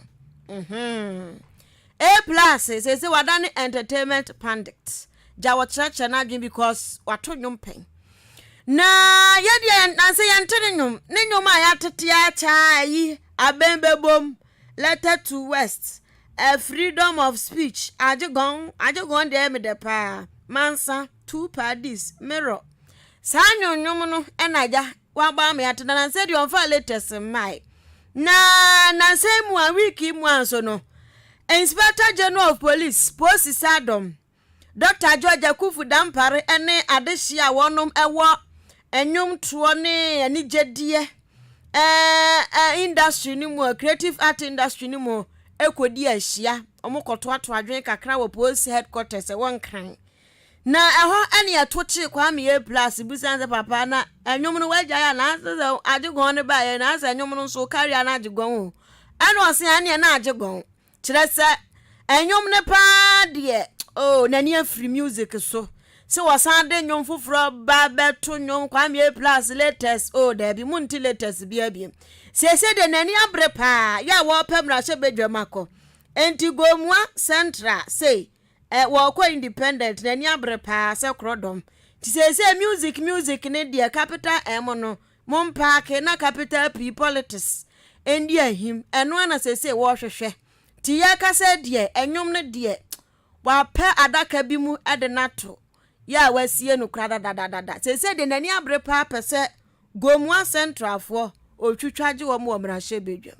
A plus sɛ sɛ wada ne entertainment pandit gya wɔkyerɛkyerɛ no adwene because wato nnwom pɛn. Na yɛdeɛ nansa yɛnte ne nnwom ne nnwom a yɛatete akyɛ a ɛyi abɛn bɛbom letter to west A freedom of speech Agyegɔn Agyegɔn deɛ ɛyɛ me dɛ paa Mansa Two Paddies Mirror Saa nwonwom no ɛna agya waba ama yɛate na nansa deɛ ɔmfa latest mmae Na nansa yi mu a week yi mu a nso no Inspector General of Police Posi Sadom Dɔkta George Akuffo Dampare ne adehye a wɔnom wɔ nnwomtoɔ ne anigyedeɛ eh, industry no mu, creative art industry no mu ɛkɔdi ahyia. Wɔn kɔtoatoa adwene kakra wɔ post headquarters ɛwɔ Nkran. Na ɛhɔ ɛne ɛto kye Kwame A Plus busan sɛ papa na ɛnwom no wagyae a na sɛ agye gɔn no baeɛ na sɛ ɛnwom no nso carry a na agye gɔn o. Ɛna ɔse ɛneɛ na agye gɔn. kyerɛ sɛ ɛnwom no paa deɛ oh n'ani afiri music so sɛ wɔsan de nnwom foforɔ ba bɛto nnwom kwamie plus latest oh daabi mu nti latest bi abiem siesie deɛ n'ani abere paa yɛ a wɔpɛ mmarahyɛ badwam akɔ nti gomua central sei eh, wɔkɔ independent n'ani abere paa sɛ korɔdɔm nti siesie music music ne deɛ capital m no Mo mpaake na capital P politics ndi ahim ɛno ara na seesei wɔrehwehwɛ. Nti yɛrekasa yi deɛ ɛnwom no deɛ wapɛ adaka bi mu de no ato yɛ a wasie no koraa dadadadada. Seesei deɛ n'ani abere paa pɛ sɛ Gomoa Centralfoɔ ɔtwitwa gye wɔn wɔ mmarahyɛbadwam.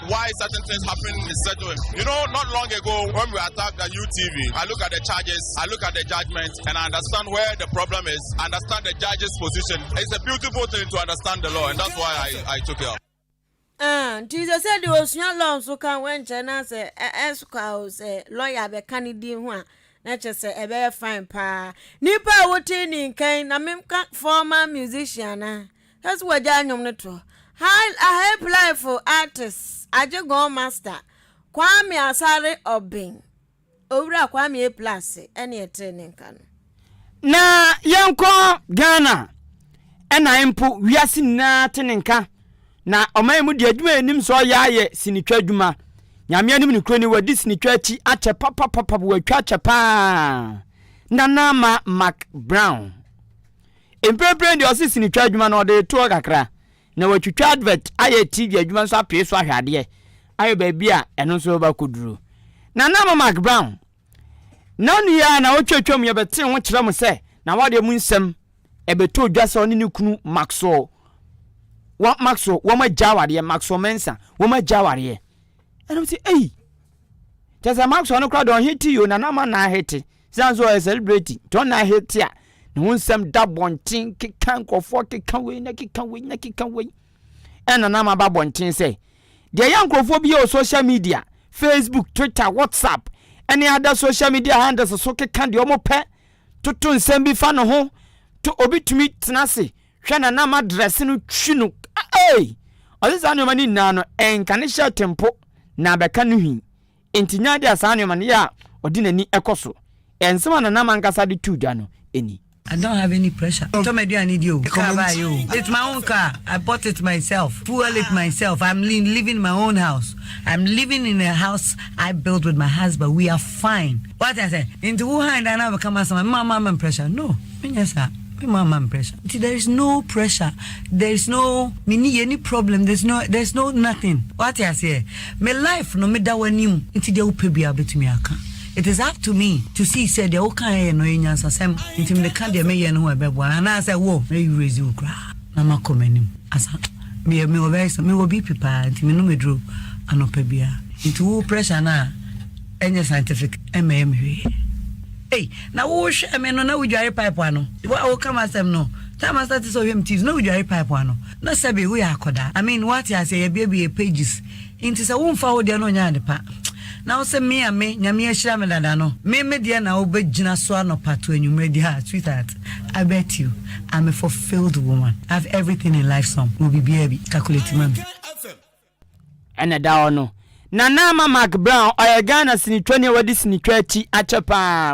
why certain things happen in certain you know not long ago when we attacked the new tv i look at the charges i look at the judgment and i understand where the problem is I understand the judge's position it's a beautiful thing to understand the law and that's why i i took it up nti sɛ sɛ deɛ ɔsua law nso ka ho nkyɛn na sɛ ɛsokɔ a o sɛ lɔya bɛka ne din ho a na kyɛ sɛ ɛbɛyɛ fine paa nipa a wote ne nkan na meka former musician na Kasi wagyae nnwom no to. Haiplayfo artist Agyegon Master, Kwame Asare Obeng, Owura Kwame Apla ase ɛne ɛtee ne nka no. Na yɛnkɔ Ghana ɛna mpo wiase nyinaa te ne nka na ɔman yi mu deɛ adwuma yɛnim sɛ ɔyɛ ayɛ sinitwa adwuma. Nyame anim ne kuro ni wadi sinitwa akyi akyɛ papapapap watwa kyɛ paa Nana Ma Mac Brown. Mprempren deɛ ɔse sinitwa adwuma no ɔde retoɔ kakra na watwitwa advert ayɛ TV adwuma nso apue so ahwɛ adeɛ ayɛ baabi a ɛno nso bɛba akɔduru. Nana mo Mark Brown nanu yi ara na ɔtwatwa mu yɛbɛtee ho kyerɛ mo sɛ Nawadeɛ mu nsɛm ɛbɛtɔ dwa sɛ ɔne ne kunu Maxwell wɔ Maxwell wɔn agya awadeɛ Maxwell Mensah wɔn agya awadeɛ ɛnam sɛ ei kyɛ sɛ Maxwell no kora deɛ ɔhete yi o Nana ma na ahete Siane sɛ ɔyɛ celebrity nti ɔna ahete a ne ho nsɛm da bɔnten keka nkurɔfoɔ keka wei na keka wei na keka wei ɛna na maba bɔnten sɛ deɛ ɛyɛ nkurɔfoɔ bi yɛ wɔ social media facebook twitter whatsapp ɛne ada social media handles so keka deɛ ɔmo pɛ toto nsɛm bi fa ne ho to obi tumi tena ase hwɛ na nam adrɛse no twi no ei ɔse saa nneɛma no nyinaa no ɛnka ne hyɛ tempo na bɛka no hwii Enti nya ade a saa nneɛma no yɛ a ɔde n'ani kɔ so. Yɛ nsɛm a Nanam ankasa de too dwa no ni. I don't have any pressure. Ntɔ m'aduane di o. Car baeɛ o. It's my own car. I bought it myself. Fuel it myself. I'm li living in my own house. I'm living in a house I built with my husband. We are fine. Wate aseɛ? Nti wo hann da no abɛka m'asɛm a, me ma ma me pressure. No, menyɛ saa. Wei ma ama me pressure. Nti there is no pressure. There is no me ni yɛ ni problem. There is no there is no nothing. Wate aseɛ? Me life no meda w'anim. Nti deɛ wopɛ biara wobɛtumi aka. It is up to me to see sɛ deɛ wokaeɛ no ɛyɛ nyansasɛm. Nti mede ka deɛ meyɛ no ho a ɛbɛboa no anaasɛ wo mɛ erase wo koraa na makɔ m'anim. Asa meyɛ mewɔ very mewɔ BP paa nti menom aduro anɔpa biara. Nti wo pressure no a. Ɛnyɛ scientific ɛmmɛyɛ me hwee. Ei na wo hwɛɛ me no na wo dware pipe ano wo a wo ka m'asɛm no time a start sɛ ɔhwɛ me TV na wo dware pipe ano na sɛbe wo yɛ akɔdaa I mean woate aseɛ yɛ biabie pages nti sɛ wo nfa wo deɛ no ɔnyɛ ade pa na wo sɛ me a me nyame ahyira me dada no me me deɛ na wo bɛ gyina so anɔpa to anwummerɛ di ha sweetheart I bet you I'm a fulfilled woman I have everything in life some wo bibiaa bi calculate ma me. Ɛna da hɔ no, Nana ama Mark Brown, ɔyɛ Ghana sinitwani a wadi sinitwa akyi akyɛ paa.